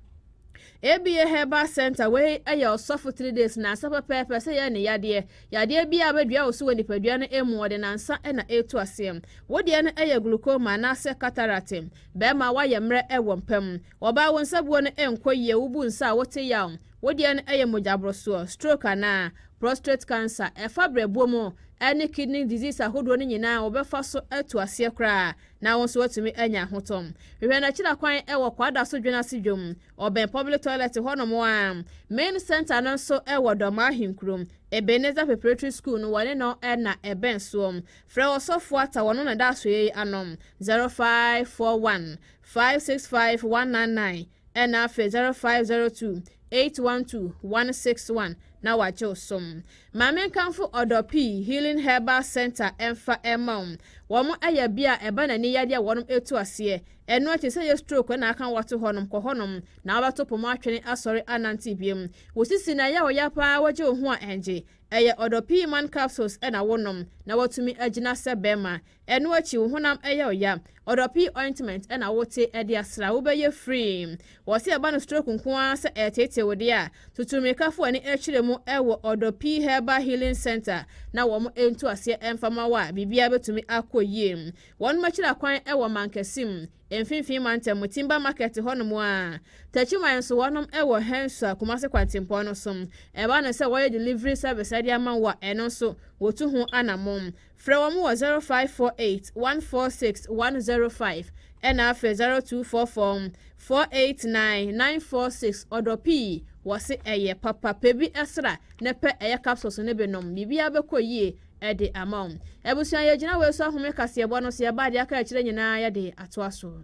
ABA Herbal Center wei yɛ ɔsɔfo three days na asa pɛpɛɛpɛ sɛ yɛ ne yadeɛ. Yadeɛ bi a bɛdua wo so wɔ nipadua no emu wɔde nansa na ɛtu aseɛ. Wo deɛ no yɛ glaucoma anaasɛ cataract. Bɛrima woayɛ mmerɛ wɔ mpa mu. Ɔbaa wo nsabuo no nkɔ yie, wobu nsa a wote yaw. Wo deɛ no yɛ mogyaborosoɔ, stroke anaa prostrate cancer. Ɛfa brɛboɔ mu ne kidney disease ahodoɔ no nyinaa wɔbɛfa so atu aseɛ koraa na wo nso woatumi anya ho tɔ. Hwehwɛ no akyiri akwan wɔ Kwada so Dwen ase dwom, ɔbɛn Public Toilet hɔnom ara. Main Centre no nso wɔ Dɔmaa Ahenkuro, Ebenezer Preparatory School no wɔne no na ɛbɛn soɔ. Frɛ Ɔsɔfoɔ Atta wɔno na ɛda asoɛeɛ yi ano, 0541 565 199. Ɛna frɛ 0502 812 161 na wagye wo som. Ma menkamfo Ɔdɔ Pii Healing Herbal Center ɛmfa ɛma wo. Wɔn ɛyɛ bea a ɛba n'ani yadeɛ a wɔnom ɛtu aseɛ. Ɛno akyi sɛ ɛyɛ stroke ɛna aka woato hɔnom, kɔ hɔnom na wobɛto poma atwene asɔre anante biom. Wo sisi na ɛyɛ wo ya paa wogye wo ho a ɛngye. Ɛyɛ Ɔdɔ Pii Man Capsules ɛna wonom na watumi agyina sɛ bɛɛma. Ɛno akyi wo honam yɛ wo ya. Ɔdɔpii ointment na wo te de asra wo bɛ yɛ free. Wɔ sɛ ɛba no stroke nko ara sɛ ɛreteetee wo deɛ a, tutu mmirika fo w'ani kyerɛ mu wɔ Ɔdɔpii Herbal Healing Center na wɔn ntu aseɛ mfa ma wo a biribiara bɛtumi akɔ yie. Wɔnom akyira kwan wɔ Mankɛse mu, Mfimfini Mantam mu, Timber Market hɔ nom a. Takyiman nso wɔnom wɔ Hensua, Kumase kwantempɔn no so. Ɛba no sɛ wɔyɛ delivery service de ama wo a, ɛno nso wɔtu ho anamon. Frɛ wɔn wɔ zero five four eight one four six one zero five ɛna afrɛ zero two four four four eight nine nine four six ɔdɔ pii wɔse ɛyɛ papa pɛ bi sra na pɛ ɛyɛ capsules no bi nom biribiara bɛkɔ yie ɛde ama wo abusua yɛgyina wei so ahome kaseɛbɔ no so yɛba deɛ aka akyire nyinaa yɛde atoa so.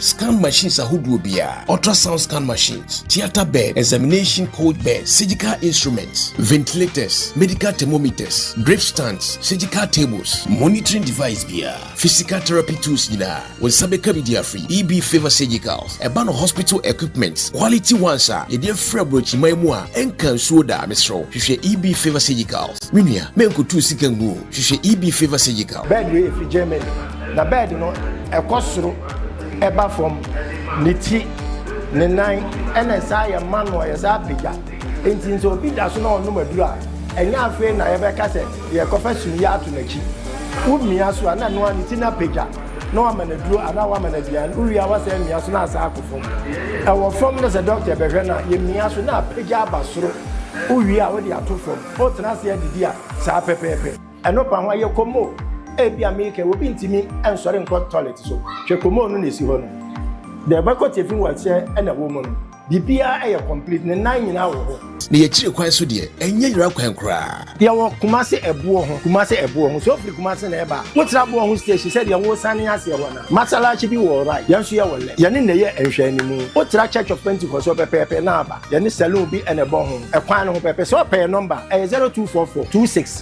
Scan machines ahodoɔ biara, ultrasound scan machines, theater bed, examination cold bed, surgical instruments, ventilators, medical thermometers, drip stands, surgical tables, monitoring device biara, physical therapy tools nyinaa, wo nsa bɛka bi de afiri EB Favor Surgicals. Ɛba no hospital equipments, quality ones a yɛde afiri aburokyiman mu a ɛnka nsuo da, mesrɛ wo hwehwɛ EB Favor Surgicals. Me nua, mɛnkɔtu wo sika ngu o, hwehwɛ EB Favor Surgical. Bed wei ɛfiri Germany. Na bɛɛd no, ɛkɔ soro, ɛba fam, ne ti, ne nan, ɛna ɛsaa yɛ ma no a yɛsaa pagya. Enti sɛ obi da so na ɔnom aduru a, ɛnyɛ afei na yɛbɛka sɛ yɛrekɔfa sumiiɛ ato n'akyi. Womia so a, na noa ne ti no apagya, na woama no aduro anaa woama no aduane, wowie a woasan amia so na asan akɔ fam. Ɛwɔ fam na sɛ dɔkta bɛhwɛ no a, yɛmia so na apagya aba soro, wowie a wode ato fam, wotena ase adidi a, saa pɛpɛɛpɛ. Ɛno pa ho a, yɛ komo. Ebia me kɛ obi ntumi nsɔre nkɔ tɔlɛt so. Hwɛ komo no na esi hɔ no. Deɛ ɛbɛkɔ tiafi wɔ aseɛ na ɛwɔ mu no, biribiara yɛ kɔmplit, ne nan nyinaa wɔ hɔ. Na yɛ akyire kwan so deɛ, ɛnyɛ nwura kwan koraa. Yɛ wɔ Kumasi ɛboɔ ho. Kumasi ɛboɔ ho. Sɛ wo firi Kumasi na ɛreba a, wo tra boɔ ho station sɛdeɛ wo sane aseɛ hɔ no. Masalachi bi wɔ right, yɛn nso yɛ wɔ left. Yɛne na ɛyɛ nhwɛanimu. Wo tra Church of Pentecost hɔ pɛpɛɛpɛ na aba. Yɛne saloon bi na ɛbɔ ho. Ɛkwan no ho pɛpɛ. Sɛ ɔpɛ yɛ number a, ɛyɛ 0244 26.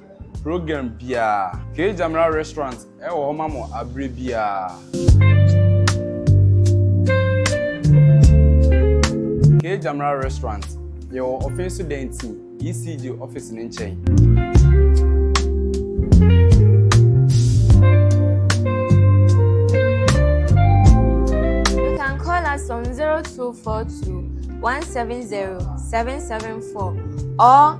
program biara. Kee Gyamera Restaurant wɔ hɔ ma mo abere biara. Kee Gyamera Restaurant, yɛwɔ Ɔfin so dan ti, ECG office no nkyɛn. You can call us on 0242 170 774 or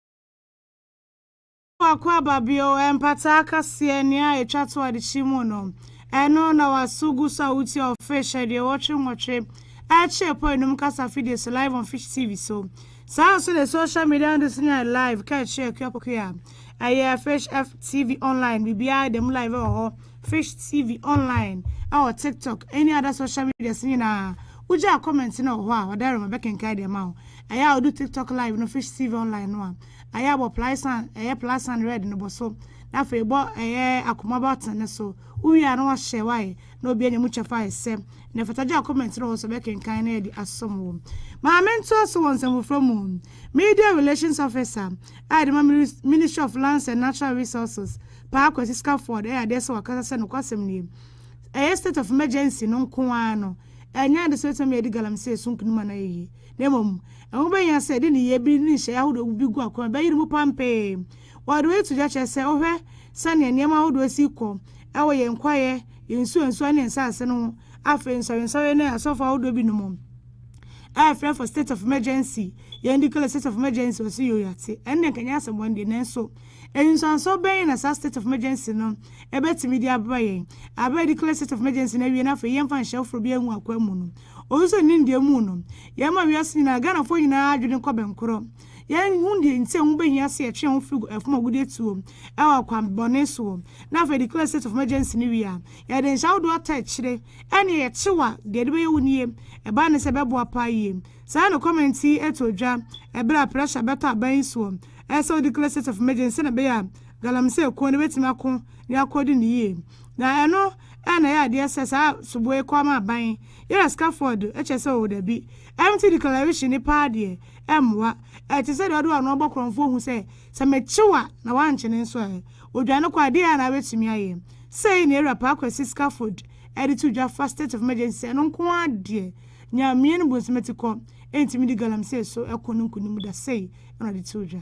Faako a Babio mpataa kaseɛ nea a ɛtwa to adekye mu no, ɛno na w'aso gu so a wotie ɔfish aduɔwɔtwe nwɔtwe ɛkyɛɛ pɔ ɛnum kasa fidie so live on Fish TV so. Saa nso na social media handles no nyinaa yɛ live ka ɛkyerɛ akua pokua a ɛyɛ Fish F TV online biribiara ɛda mu live wɔ hɔ Fish TV online ɛwɔ TikTok ɛne other social medias nyinaa wogyaa comment no wɔ hɔ a ɔda rema bɛkenkan de ama wo. Ayɛ a odu TikTok live no Fish TV online no a, ayɛ a bɔ plaes an, ɛyɛ plus an red no bɔ so, na afei bɔ ɛyɛ akoma button no so. Wo wie a na wɔahyɛ wo ayɛ na obi anya mu kyɛfa ayɛ sɛ na ɛfata gyaa comment no wɔ hɔ sɛ ɔbɛkenkan na yɛde asom wo. Maame ntoa so wɔ nsɛm foforɔ mu Media Relations Officer a yɛde ma Ministry of Lands and Natural Resources Paa Kwasi Scafford ɛyɛ adeɛ sɛ wakasa sɛ nokwasɛm nie ɛyɛ state of emergency no nko ara no ɛnyɛ ade sɛ ɛbɛtumi ama yɛadi galamsey so nkunim anaa yɛyi na mmom ɛho bɛhia sɛ yɛde nneyɛe bi ne nhyehyɛe ahodoɔ bi gu akwan a ɛbɛyere mu pampee. Wɔde wei to dwa kyerɛ sɛ wohwɛ sɛnea nneɛma ahodoɔ si rekɔ wɔ yɛn kwaeɛ, yɛn nsuwansuwa ne yɛn nsase no ho, afei nsɔrensɔre ne asɔfo ahodoɔ binom a yɛfrɛ for state of emergency, yɛn declare state of emergency wɔ so yɛ owiate. Ɛno deɛ nka nyɛ asɛmmɔne deɛ, nanso nsunsuansoɔ bɛn na saa state of emergency no bɛtumi de abrɛ yɛn? Bere a yɛdeclare state of emergency no awie na afei yɛmfa nhyɛ foforo biara ngu akwan mu no, Ɔwɔ sɛ ne ndeɛ mu no, yɛma wiase nyinaa Ghanafoɔ nyinaa adwene kɔ bɛnkorɔ. Yɛhu deɛ nti a ɛho bɛhia sɛ yɛtwe yɛn ho firi ɛfam agudeɛ tuo wɔ akwan bɔne soɔ, na afei declare state of emergency no wie a, yɛde nhyɛ ahodoɔ ata akyire. Ɛnneɛ yɛkyew a, deɛ ɛde bɛyɛ wo nie. Ɛbaa ne sɛ ɛbɛboa paa yie. Saa na comment yi too dwa ɛberɛ a pressure bɛtɔ aban yi soɔ sɛ wo declare state of emergency sɛdeɛ ɛbɛyɛ a galamsey kuo no bɛtumi ako na yɛakɔ di no yie. Na ɛno ɛɛ na ɛyɛ adeɛ sɛ saa soboɔ yi kɔɔ ma aban yɛrɛ sika fɔɔ do ɛkyɛ sɛ oo dabi ɛmte declaration ne paa deɛ ɛmmoa ɛte sɛ deɛ ɔde ɔno ɔbɔ korɔnfoɔ hu sɛ sɛ mekye wo a na wankye ne nso ɛɛ odwane kɔ a deɛ ɛɛ na abɛtumi ayɛ sei na ɛwura paa kwasi scaffold ɛde to dwa fa state of emergency sɛ ɛno nko ara deɛ nyameɛ ne bonsomati kɔ ɛntumi de galamsey so ɛko no nkonim da sei ɛna ɔde to dwa.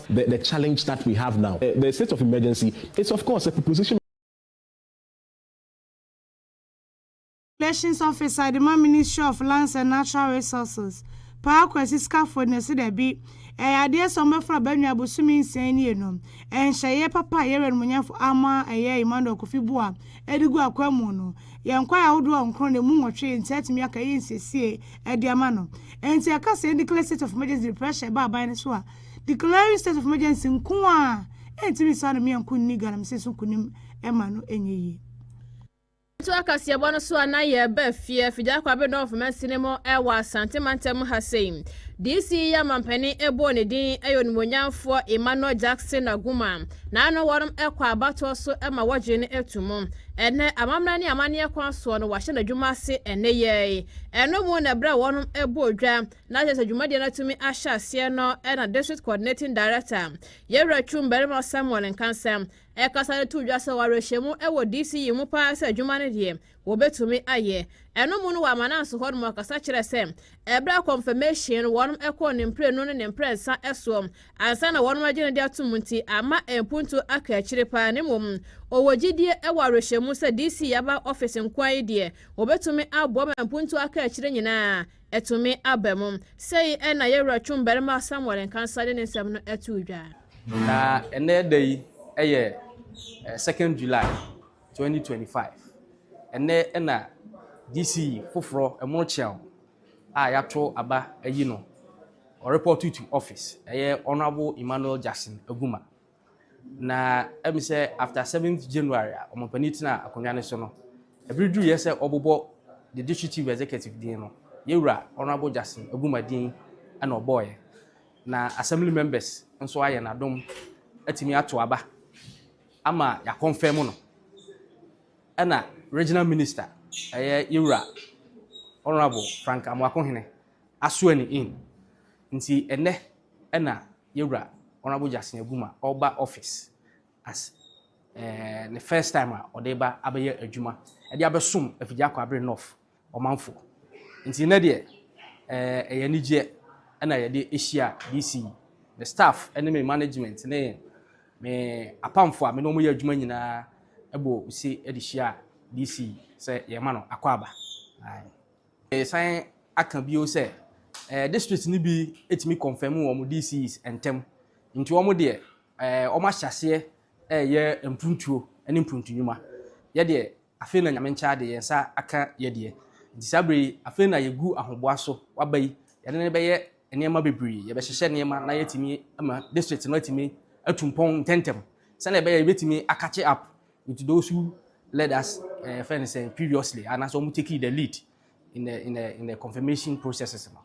The the challenge that we have now eh, the state of emergency is of course a proposition of. Relations Officer de ma Ministry of Lands and Natural Resources, Paa Kwasi Skaffold na ɔse dabi, ɛyɛ adeɛ sɛ wɔbɛforo aba nua bosome nsia yi nie no, nhyɛyɛɛ papa a Yɛwura Animuonyamfo ama ɛyɛ Emmanuel Kofi Buah de gu akwanmu no, yɛn kwaeɛ ahodoɔ nkron na ɛmu nwɔtwe nti atumi aka ɛyɛ nsiesie de ama no. Enti ɛka sɛ yɛn declare state of emergency de pressure ba aban no so a, Declaring state of emergency nko ara ntumi nsan ne mmea nko nni galamsey so nkonim mma no nyɛ yie. Yɛtoa kaseɛbɔ no so a na yɛreba afie, Figya Kwabena of Masinemo wɔ Asante mantam ha sei. DC yi a mampanin bɔɔ ne din yɛ onimuonyamfoɔ Emmanuel Jackson Aguma. Na ano wɔnom kɔ abatoɔ so ma wɔgye no to mu. Ɛnnɛ amammerɛ ne amanneɛ kwan soɔ no wɔahyɛ n'adwuma ase nneyɛɛ yi. Ɛno mu na ɛberɛ a wɔnom bɔɔ dwa na kyerɛ sɛ dwumadie no atumi ahyɛ aseɛ no na District Coordinating Director, Yɛwura Twum Barima Samuel Nkansɛm, ɛkasa de too dwa sɛ wɔawerɛhyɛ mu wɔ DC yi mu paa sɛ adwuma no deɛ wɔbɛtumi ayɛ. Ɛno mu no wɔ Amananso hɔ nom ɔkasa kyerɛ sɛ ɛberɛ a confirmation no wɔnom kɔɔ ne mprenu ne ne mprɛnsa soɔ ansa na wɔnom agye no de atom nti amma mpuntuo aka akyire paa na mmom ɔwɔ gyidie wɔ awerɛhyɛ mu sɛ DC aba office nkoa yi deɛ wɔbɛtumi aboa ma mpuntuo aka akyire nyinaa Ɛtumi aba mu. Sei na yɛn Wura twu mmarima Samuel Nkansah de ne nsɛm no too dwa. Na ɛnnɛ da yi yɛ 2nd July 2025. Ɛnnɛ na DC foforɔ ɛmono kyeaw a yɛato aba ayi no ɔrepɔɔto to office, ɛyɛ Honourable Emmanuel Jackson Aguma. Na ɛmi sɛ after seventh January a wɔn panin tena akonnwa no so no, ɛbiri duru yɛ sɛ ɔbobɔ the district chief executive din no, yɛwura Honourable Jackson Aguma din ɛna ɔbɔɔyɛ. Na assembly members nso ayɛ n'adom atumi ato aba ama yɛakɔnfɛn mu no. Ɛna regional minister ɛyɛ yɛwura Honourable Frank Amoako Hene asoa ni in. Nti ɛnɛ ɛna Yewura Honourable Jackson Aguma ɔreba office as eh, ne first time a ɔde reba abɛyɛ adwuma ɛde abɛsom Afigya Akwabere North ɔmanfoɔ. Nti nnɛ deɛ eh, ɛyɛ anigyeɛ ɛna yɛde ahyia DC, me staff ne me management ne me apamfo a me ne wɔn yɛ adwuma nyinaa ɛbɔ ose ɛde hyia DC sɛ yɛma no akwaaba. Aye. Meresan aka bio sɛ eh, district no bi etumi confirm wɔn DCs ntɛm. Nti wɔn deɛ eh, wɔn ahyɛ aseɛ ɛreyɛ mpuntuo ne mpuntunwuma. Yɛ deɛ afei na nyame nkyɛ ade yɛn nsa aka yɛ deɛ. Nti saa berɛ yi afei na yɛgu ahoboa so waba yi yɛne no bɛyɛ nneɛma bebree yɛbɛhyehyɛ nneɛma na yɛatumi ama district no atumi atu mpɔn ntɛntɛm sɛdeɛ ɛbɛyɛ yɛbɛtumi akakye up With those who led us eh, friend sɛ eh, previously anaasɛ wɔn taking the lead in the in the in the confirmation processes no.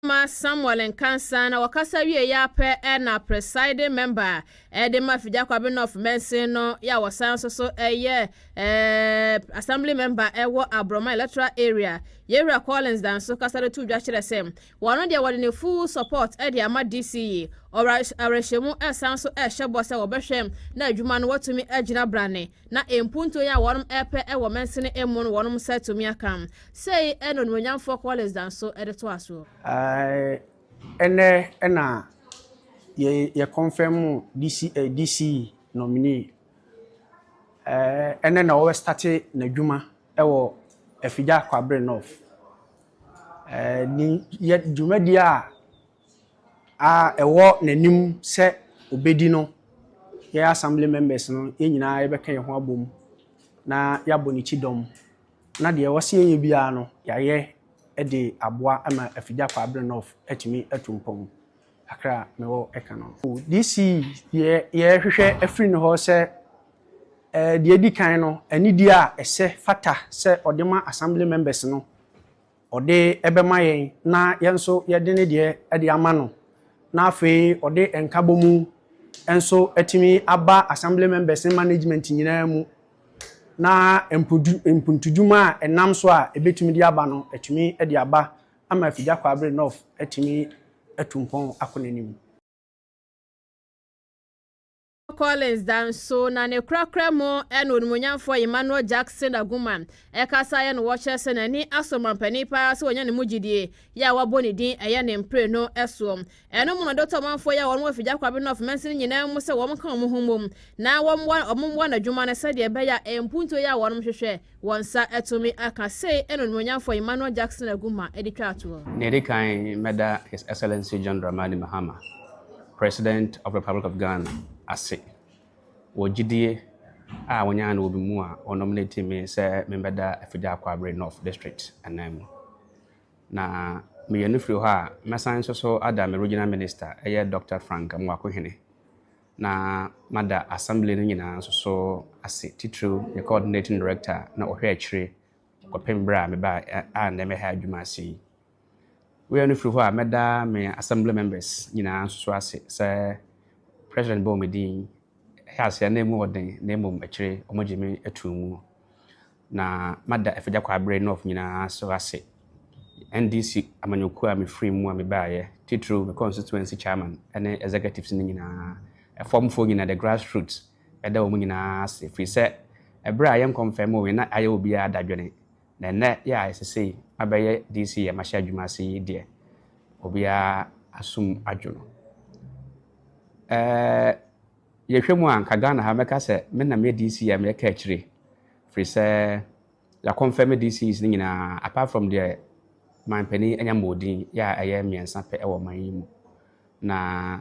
ma Samuel Nkansa na wɔkasa wie yɛ apɛ na presiding member ɛde ma Figya Kwabe North Mansin no yɛ a wɔsan nso so ɛyɛ ɛɛ assembly member ɛwɔ Aborɔma electoral area Yɛwura Collins Danso kasa de to dwa kyerɛ sɛ Wɔno deɛ wɔde ne full support de ama DC yi. Ɔwɔ awerɛhyɛmu san so hyɛ bɔ sɛ wɔbɛhwɛ na adwuma no watumi agyina brane na mpuntuo yi a wɔnom repɛ wɔ mansini mu no wɔnom nsa atumi aka. Sei na Onimuonyamfoɔ Collins da nso de toa soɔ. Ɛnnɛ na yɛ confirm DC DC nominee. Ɛnnɛ na ɔbɛ starte n'adwuma. Ɛwɔ Afigya Kwabre North. Ɛɛ ne yɛ dwumadie a a ɛwɔ n'anim sɛ ɔbɛdi no, yɛn assembly members no, yɛn nyinaa yɛbɛka yɛn ho abom na yɛabɔ ne kyidɔm na deɛ ɛwɔ sɛ yɛyɛ biara no, yɛayɛ de aboa ama Afigya Kwabre North atumi atu mpɔn. kakra a mewɔ ka no. DC deɛ yɛhwehwɛ afiri ne hɔ sɛ, deɛ edi kan no, anidie a ɛsɛ fata sɛ ɔde ma Assembly members no, ɔde bɛma yɛn na yɛn nso yɛde ne deɛ de ama no, na afei ɔde nkabɔmu nso atumi aba Assembly members ne management nyinaa mu, na mpuntudwuma a ɛnam so a ɛbɛtumi de aba no, atumi de aba ama Afigya Kwaabere North atumi atu mpɔn akɔ n'anim. Collins da nso na ne korakora mu ɛna onimuonyamfoɔ Emmanuel Jackson Agumah ɛkasa yɛ no wɔ kyerɛ sɛ n'ani asɔ ɔmanpanin paa sɛ wɔnya ne mu gyidie yɛ a wɔabɔ ne din ɛyɛ ne mprenu soɔ Ɛno mu no, Dɔtɔ Ɔmanfoɔ yi a wɔn wɔ Fijakwabe North mansini nyinaa mu sɛ wɔn nka wɔn ho mmom na wɔmmoa wɔn mmoa no adwuma no sɛdeɛ ɛbɛyɛ a mpuntuo yi a wɔnom hwehwɛ wɔn nsa atumi aka, sei na Onimuonyamfoɔ Emmanuel Jackson Agumah de twaa toɔ. Nea ɛdi kan, mɛda His Excellency John Dramani Mahama, President of Republic of Ghana ase wɔ gyidie a wɔnyaa no wɔ me mu a wɔnom no timi sɛ membɛda Fijakwabe North District ananmu. Na meyɛ no firi hɔ a, mɛsan nso so ada me Regional Minister, ɛyɛ Dɔkta Frank Amoako Hene, na mada Assembly no nyinaa nso so ase, titiriw me Coordinating Director a na ɔhwɛ akyire kɔpem berɛ a mebaa a nnɛ me ha adwuma ase yi. Woyɛ no firi hɔ a, mɛda me Assembly Members nyinaa nso so ase sɛ President bɔɔ me din, ɛyɛ aseɛ na ɛmu ɔden na mmom akyire wɔgye me too mu. Na mada Afagya Kwaabere North nyinaa so ase, NDC amanyɔkuo a mefiri mu a mebaeɛ, titiriw me constituency chairman ne executives no nyinaa, ɛfɔmfoɔ nyinaa, the grassroots, meda wɔn nyinaa ase, firi sɛ ɛberɛ a yɛn kɔnfɛmoo yɛn na ayɛ obiara dadwene, na ɛnnɛ yɛ a ɛsɛ sei mabɛyɛ DC a mahyɛ adwuma ase yi deɛ, obiara asom adwo no. Ɛɛ. Yɛhwɛ mu a, anka Ghana ha mɛka sɛ me na meyɛ DC a meyɛ kaakyire, firi sɛ yɛakɔnfɛme DCs no nyinaa apart from deɛ man panin anya mmɔɔdin yɛ a ɛyɛ mmiɛnsa pɛ wɔ man yi mu. Na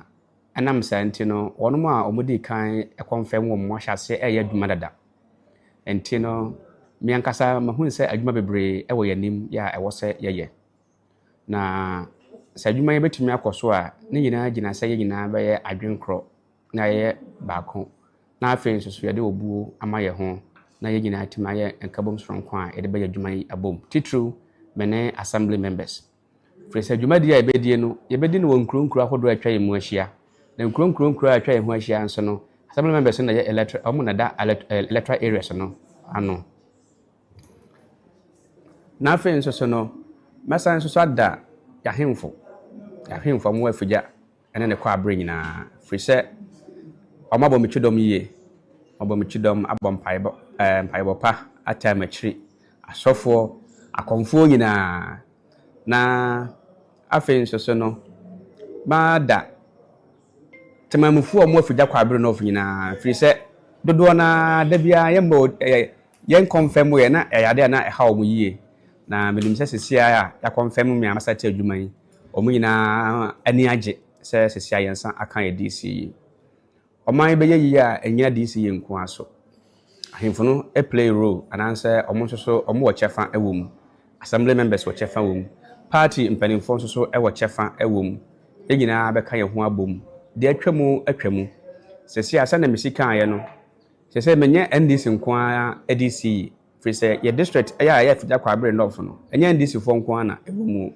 ɛnam saa nti no, wɔn a wɔdii kan kɔnfɛm wɔn no ahyɛaseɛ reyɛ adwuma dada. Nti no, me ankasa mahunu sɛ adwuma bebree wɔ yɛn anim yɛ a ɛwɔ sɛ yɛyɛ. Na sɛ adwuma yi bɛtumi akɔ so a, ne nyinaa gyina sɛ yɛn nyinaa bɛyɛ adwene korɔ na yɛyɛ baako. Na afei nso so yɛde obuo ama yɛn ho na yɛn nyinaa atumi ayɛ nkabom soronko a yɛde bɛyɛ adwuma yi abom. Titiriw, me ne Assembly members. Firi sɛ dwumadie a yɛbɛdie no, yɛbɛdi no wɔ nkuro nkuro ahodoɔ a atwa yɛn mu ahyia. Na nkuro nkuro nkuro a atwa yɛn ho ahyia nso no, Assembly members no na ɛyɛ electoral, wɔn na ɛda electoral areas no ano. Na afei nso so no, mɛsan nso so ada yɛahemfo, yɛahemfo a wɔwɔ afigya ne ne kwaabere nyinaa, firi sɛ wɔabɔ me kyidɔm yie, wɔabɔ me kyidɔm abɔ mpaebɔ, ɛɛ mpaebɔ pa ataa m'akyiri, asɔfoɔ, akɔmfoɔ nyinaa. Na afei nso so no, mada temanmufoɔ a wɔwɔ afigya kwaabere nɔɔfo nyinaa, firi sɛ dodoɔ no ara da biara yɛmmɔ ɛɛ. Yɛn kɔmfɛm mu yɛ na ɛyɛ ade a na ɛhaw wɔn yiye, na minim sɛ sese ara a yɛakɔmfɛm me ara masa te adwuma yi, wɔn nyinaa ani agye sɛ sese ara yɛnsa aka yɛn DC yi. Ɔman yi bɛyɛ yiye a ennyina DC yi nko ara so. Ahemfo no play role anaasɛ wɔn nso so wɔwɔ kyɛfa wɔ mu, Assembly members wɔ kyɛfa wɔ mu, party mpanyimfoɔ nso so wɔ kyɛfa wɔ mu, yɛn nyinaa bɛka yɛn ho abom, deɛ atwa mu atwa mu. Sese ara sɛnea mesi kaeɛ no, Kyerɛ sɛ menyɛ NDC nko ara de si yi, firi sɛ yɛ district a ɛyɛ Afigya Kwabre Nɔf no, ɛnyɛ NDC foɔ nko ara na ɛwɔ mu.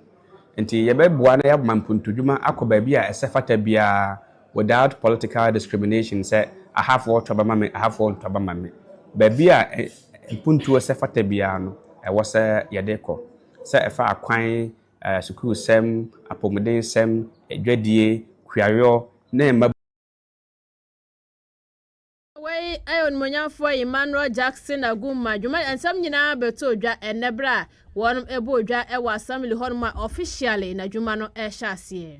Nti yɛbɛboa na yɛama mpuntuadwuma akɔ baabi a ɛsɛ fata biara without political discrimination sɛ ahafoɔ to aba ma me, ahafoɔ nto aba ma me. Baabi a mpuntuo sɛ fata biara no, ɛwɔ sɛ yɛde kɔ. Sɛ ɛfa akwan, sukuusɛm, apomudensɛm, adwadie, kuayɔ ne mma. Wei yɛ Onimuonyamfoɔ Emmanuel Jackson Agumah dwuma nsɛm nyinaa bɛtɔɔ dwa ɛnnɛ berɛ a wɔnom bɔɔ dwa wɔ Assembly hɔ nom a officially na dwuma no rehyɛ aseɛ.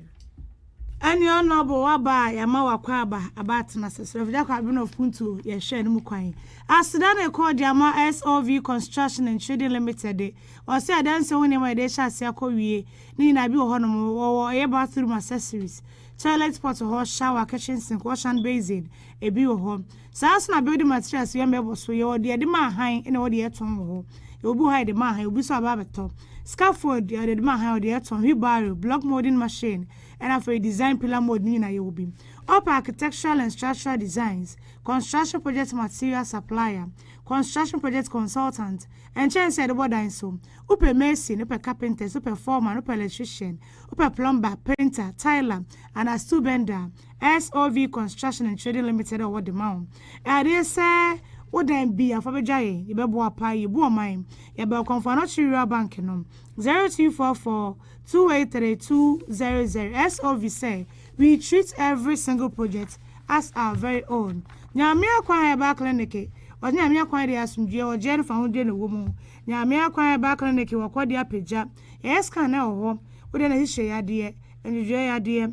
Ɛne Honourable waba a yɛama wo akwaaba aba atena ase. Srɛfo Gyako Aben of Puntuo yɛ hwɛ no mu kwan. Aseda na ɛkɔ de ama SOV Construction and Trading Limited ɔsɛ adansi ho nneɛma a yɛde hyɛ aseɛ akɔ wie ne nyinaa bi wɔ hɔ nom wɔ wɔ ɛyɛ bathroom accessories, toilet pot hɔ, shower, kitchen sink, wash and basin, Ebi wɔ hɔ. Saa ara nso na building materials yɛn bɛbɔ so. Yɛwɔ deɛ yɛde ma ahan ɛna ɛwɔ deɛ yɛtɔn wɔ hɔ. Yɛwɔ bi wɔ ha yɛde ma ahan, obi nso aba abɛtɔ. Scaffold yɛde de ma ahan, ɔde yɛtɔn. Wheelbarrow, block moulding machine, ɛna afei design pillar mould ne nyinaa yɛwɔ bi. Ɔpɛ architectural and structural designs, construction project material supplier, construction project consultant, nkyɛnse a yɛde bɔ dan so. Wopɛ mason, wopɛ carpenters, wopɛ foreman, wopɛ electrician, wopɛ plumber, painter, tiler, anaa steel bender a, SOV Construction and Trading Limited a ɔwɔ de ma wo. Ɛadeɛ sɛ wo dan bi afa bɛdwa yɛ, yɛbɛboa paa, yɛbu ɔman. Yɛbɛ Ɔkɔmfoɔ Anɔkye Rural Bank no, 0244-283-200 SOV sɛ we treat every single project as our very own. Nyamea Kwan Herbal Clinic Ɔde Nyamea Kwan deɛ asomdwoeɛ, ɔgyeɛ ne fahodie na ɛwɔ mu. Nyamea Kwan Herbal Clinic wɔ Kɔde Apagya. Yɛyɛ scan wɔ hɔ, wo deɛ na ɛhyehyɛ yadeɛ, ndwodwoeɛ yadeɛ,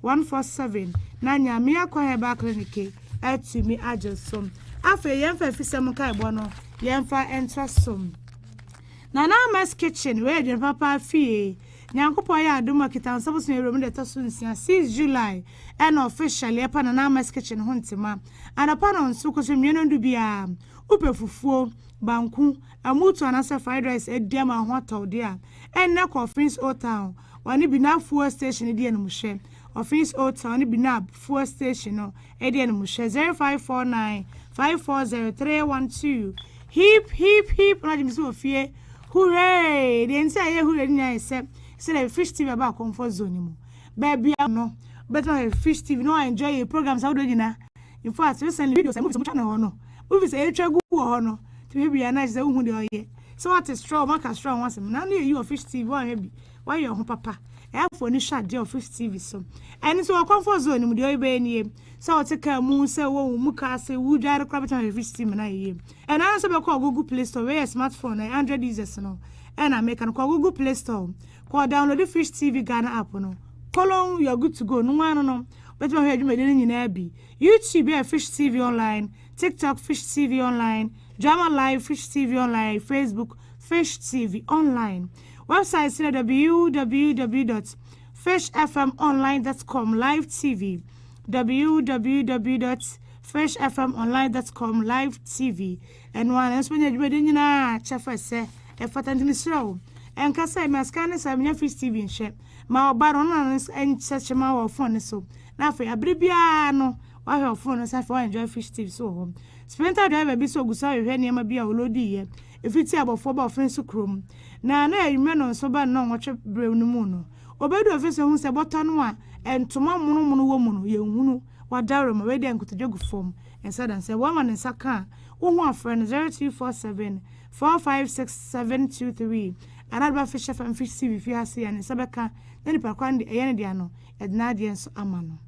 one four seven na Nyame akwa herbal clinic atumi agye som afei yɛmfa afisɛm nkaebɔ no yɛmfa ntra som Nana Amas Kitchen wei adwene papa afie Nyankopɔn yɛ adom a kita nsa bosom awuram da ɛtɔ so nsia 6 July ɛna officially ɛpa Nana Amas Kitchen ho ntoma anɔpa no nso kɔ so nnuane ɔdo biara wopɛ fufuo banku amutu anaasɛ fried rice adi ama ho atɔwde a ɛnnɛ kɔ Offin's Old Town Ɔne Binah Fuel Station di animhwɛ, Office Hotel ne Binah Fuel Station no di animhwɛ, zero five four nine five four zero three one two Hip hip hip Ɔno agye me sɛ wɔ fie Hurray Deɛ nti a yɛyɛ hurray no nyinaa yɛ sɛ Sɛdeɛ Fish TV aba comfort zone no mu Baabi a no wobɛtumi ahwɛ Fish TV na woenjoy yɛn programs ahodoɔ nyinaa In fact, recently videos a movies a wɔtwa no wɔ hɔ no Movies a yɛtwa gu wɔ hɔ no tumi hwɛ bi a na kyerɛ sɛ wohu deɛ ɔyɛ Sɛ wate sra wɔn aka sra ho asɛm na na eyi wɔ fish TV wɔanhwɛ bi wɔayɛ wɔn ho papa ɛyɛ afo ani hwɛ adeɛ wɔ fish TV so ɛno nso wɔ comfort zone no mu deɛ ɔyɛbɛyɛ nie sɛ ɔte kaa mu sɛ wɔ wo mu kaa sɛ wodware koraa bɛtumi ahwɛ fish TV na yɛyɛ ɛno ara sɛ bɛkɔ google play store wei yɛ smartphone na android users no ɛna meka no kɔ google play store kɔ download fish TV Ghana app no kolon you are good to go no ano no bɛtumi ahwɛ adwumadi no nyinaa bi youtube yɛ fish TV online TikTok Fish TV Online, Drama Live Fish TV Online, Facebook Fish TV Online. Website sɛ www.fishfmonline.com Live TV www.fishfmonline.com Live TV ɛno a nanso menya dwumadi nyinaa kyɛfa sɛ ɛfata nti mesrɛ wo ɛnka sɛ masika ne sɛ menya Fish TV nhwɛ ma ɔba no na nkyɛkyema wɔ fone so na afei abere biara no Wahwɛ ɔfon no nso afei wa enjoy fish stew nso wɔ hɔ. Sprinter driver bi nso ogu so rehwehwɛ nneɛma bi a ɔloadii yɛ efi ti a abɔfoɔ ba ɔfen so kurom. Na na ɛyɛ anwummerɛ no nso bɛn nnɔnwɔtwe berɛ no mu no. Ɔbɛduru ɔfen so hunu sɛ bɔtɔ no a ntoma monomono wɔ mu no yɛ nhunu, wadaworo ma wei deɛ nkotodwe gu fam nsa da nsa. Wama ne nsa ka a, wo ho afrɛ no 0247 456 723 anaa wode bɛfehyɛ fam fish stew fie ha sei a ne nsa bɛka na nipa korɔ no deɛ ɛyɛ ne dea no yɛde n'adeɛ nso ama no.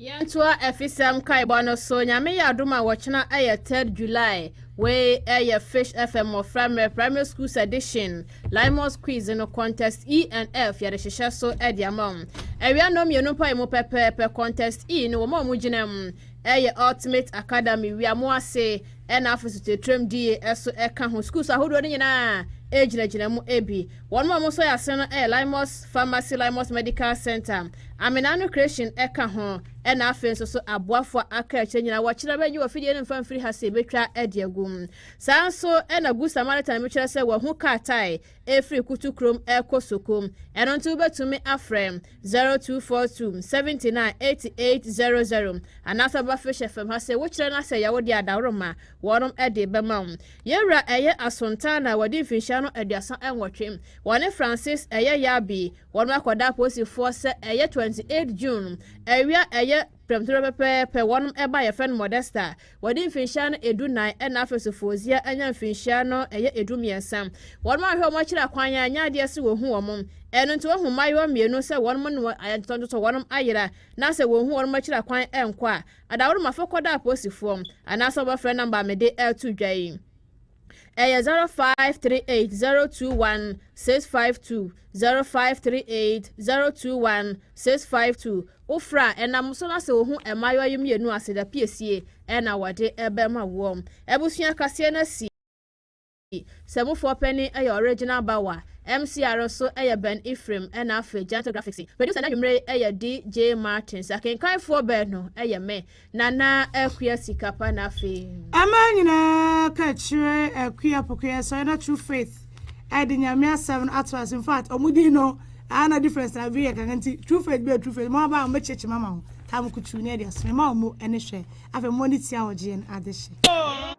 Yɛntoa afisɛm nkaebɔ no so. Nyame yɛ adom a wɔkyena ɛyɛ 3rd July. Wei ɛyɛ Fish FM mmɔfra mmerɛ primary schools edition Limos quiz no contest E and F yɛde hyehyɛ so ɛde ama wɔn. Awia nnɔn mmienu mpo ayɛ mu pɛpɛɛpɛ. Contest E no wɔn a wɔn gyina mu ɛyɛ Ultimate Academy wia mo ase ɛna afo so titiriam die ɛso ɛka ho. Schools ahodoɔ no nyinaa ɛgyinagyina mu ɛbi. Wɔnom a wɔn nso yɛ asene no yɛ Limos Pharmacy, Limos Medical Center, Amenano Creation ka ho, ɛna afei nso so aboafoɔ a aka akyire nyinaa wɔkyerɛ bɛgye wɔ fidie no mfa mfiri ha sɛ yɛbɛtwa adi agu. Saa nso ɛna Good Samaritan bi kyerɛ sɛ wɔahu kaa tae ɛfiri Kutu kurom ɛkɔ Soko. Ɛno nti wobɛtumi afrɛ 0242 79 8800 anaasɛ wɔba Fish FM ha sɛ wokyerɛ no asɛ yɛwo deɛ adaworoma wɔnom de bɛma wo. Yɛn Wura ɛyɛ Assunta na wɔadi mfinhyia no aduasa nwɔtwe. Wɔne Francis ɛyɛ Yabi. Wɔnom akɔda apolisifoɔ sɛ ɛyɛ 28 June awia ɛyɛ prɛmtoberɛ pɛpɛɛpɛ wɔnom ba yɛfrɛ no Modesta. Wɔadi mfinhyia no ɛdu nan ɛna afei nso Fozia anya mfinhyia no ɛyɛ ɛdu mmiɛnsa. Wɔnom anhwɛ wɔn akyiri akwan anyɛ adeɛ sɛ wɔhu wɔn. Ɛno nti woahu mmaayewa mmienu sɛ wɔnom ne wɔn ayɛ ntotɔntotɔ wɔnom ayera na sɛ wɔhu wɔnom akyiri akwan nkɔ a Adaworoma fɔkɔdɔ aposifoɔ anaa sɛ wɔbɛfrɛ nɔmba a mede reto dwa yi. Ɛyɛ 0538021652, 0538021652. Wofrɛ a, ɛnam so no asɛ wo ho mmaayewa yi mmienu aseda piesie na wɔde bɛma woɔ. Abusua kaseɛ no asi. Sɛ mu foɔ panin yɛ original bawa, MCR so yɛ Ben Ephraim ɛna afei Gentle Graphics. Producer no anwumerɛ yi yɛ DJ Martins. Akenkan foɔ baanu yɛ me, Nana Akua Sikapa na afei. Ɛmaa nyinaa ka kyerɛ Akua Pokoya sɔre na True Faith de Nyame asɛm no ato ase infact ɔmo din no ɛha na difference na vee yɛ kakra nti True Faith bɛɛ True Faith mo aba a ɔmo bɛkyerɛkyerɛ mo ama wo tam kutuu ne ɛde aso mema ɔmo ɛne hwɛ afei mo ne tia ɔgyeɛ no adehye.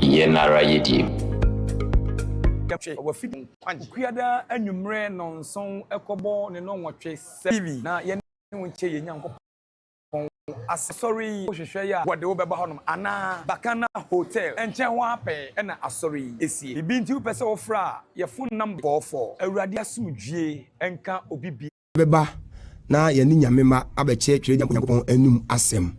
Yɛn ara yedie. Twe w'afidie ho kwan. Okuada anwummerɛ nnɔnson kɔbɔ ne nnɔnwɔtwe sɛ TV na yɛne wo nkyɛ yɛn Nyankopɔn asɛm. Asɔre yi wohwehwɛ yɛ a wɔde wo bɛba hɔnom anaa? Bakana Hotel nkyɛn hɔ ara pɛɛ na asɔre yi sie. Biribi nti wopɛ sɛ wofra a, yɛfo nnam de kɔ fɔ. Awurade asomdwie nka obi biara. yɛbɛba na yɛne Nyame mma abɛkyerɛkyerɛ Nyankopɔn anom asɛm.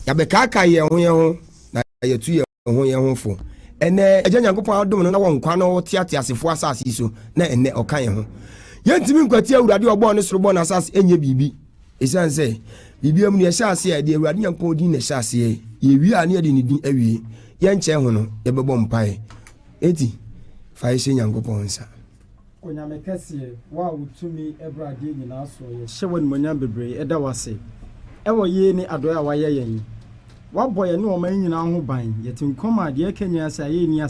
Yɛabɛkaakae yɛn ho yɛn ho na yɛatu yɛn ho yɛn ho fo. Ɛnnɛ, Agya Nyankopɔn adom no na wɔ nkwa na ɔte ateasefoɔ asase yi so na ɛnnɛ ɔka yɛn ho. Yɛntumi nkwati Awurade a ɔbɔɔ ne soro bɔɔ n'asase nyɛ biribi. Ɛsiane sɛ biribiara mu na yɛhyɛ aseɛ a, yɛde Awurade Nyankopɔn din na ɛhyɛ aseɛ. Yɛwie a na yɛde ne din awie. Yɛnkyɛe ho no, yɛbɛbɔ mpaeɛ. Enti, fa yɛ hyɛ Nyankopɔn nsa. Onyame kɛseɛ, wo a wo tumi boro adeɛ nyinaa soɔ yɛ. Hyɛ w'animuonyam bebree, yɛda wo ase wɔ yei ne adɔeɛ a woayɛ yɛn. Woabɔ yɛne ɔman nyinaa ho ban, yɛte nkɔm a deɛ ɛka nyinaa sɛ ayɛyi nni ase.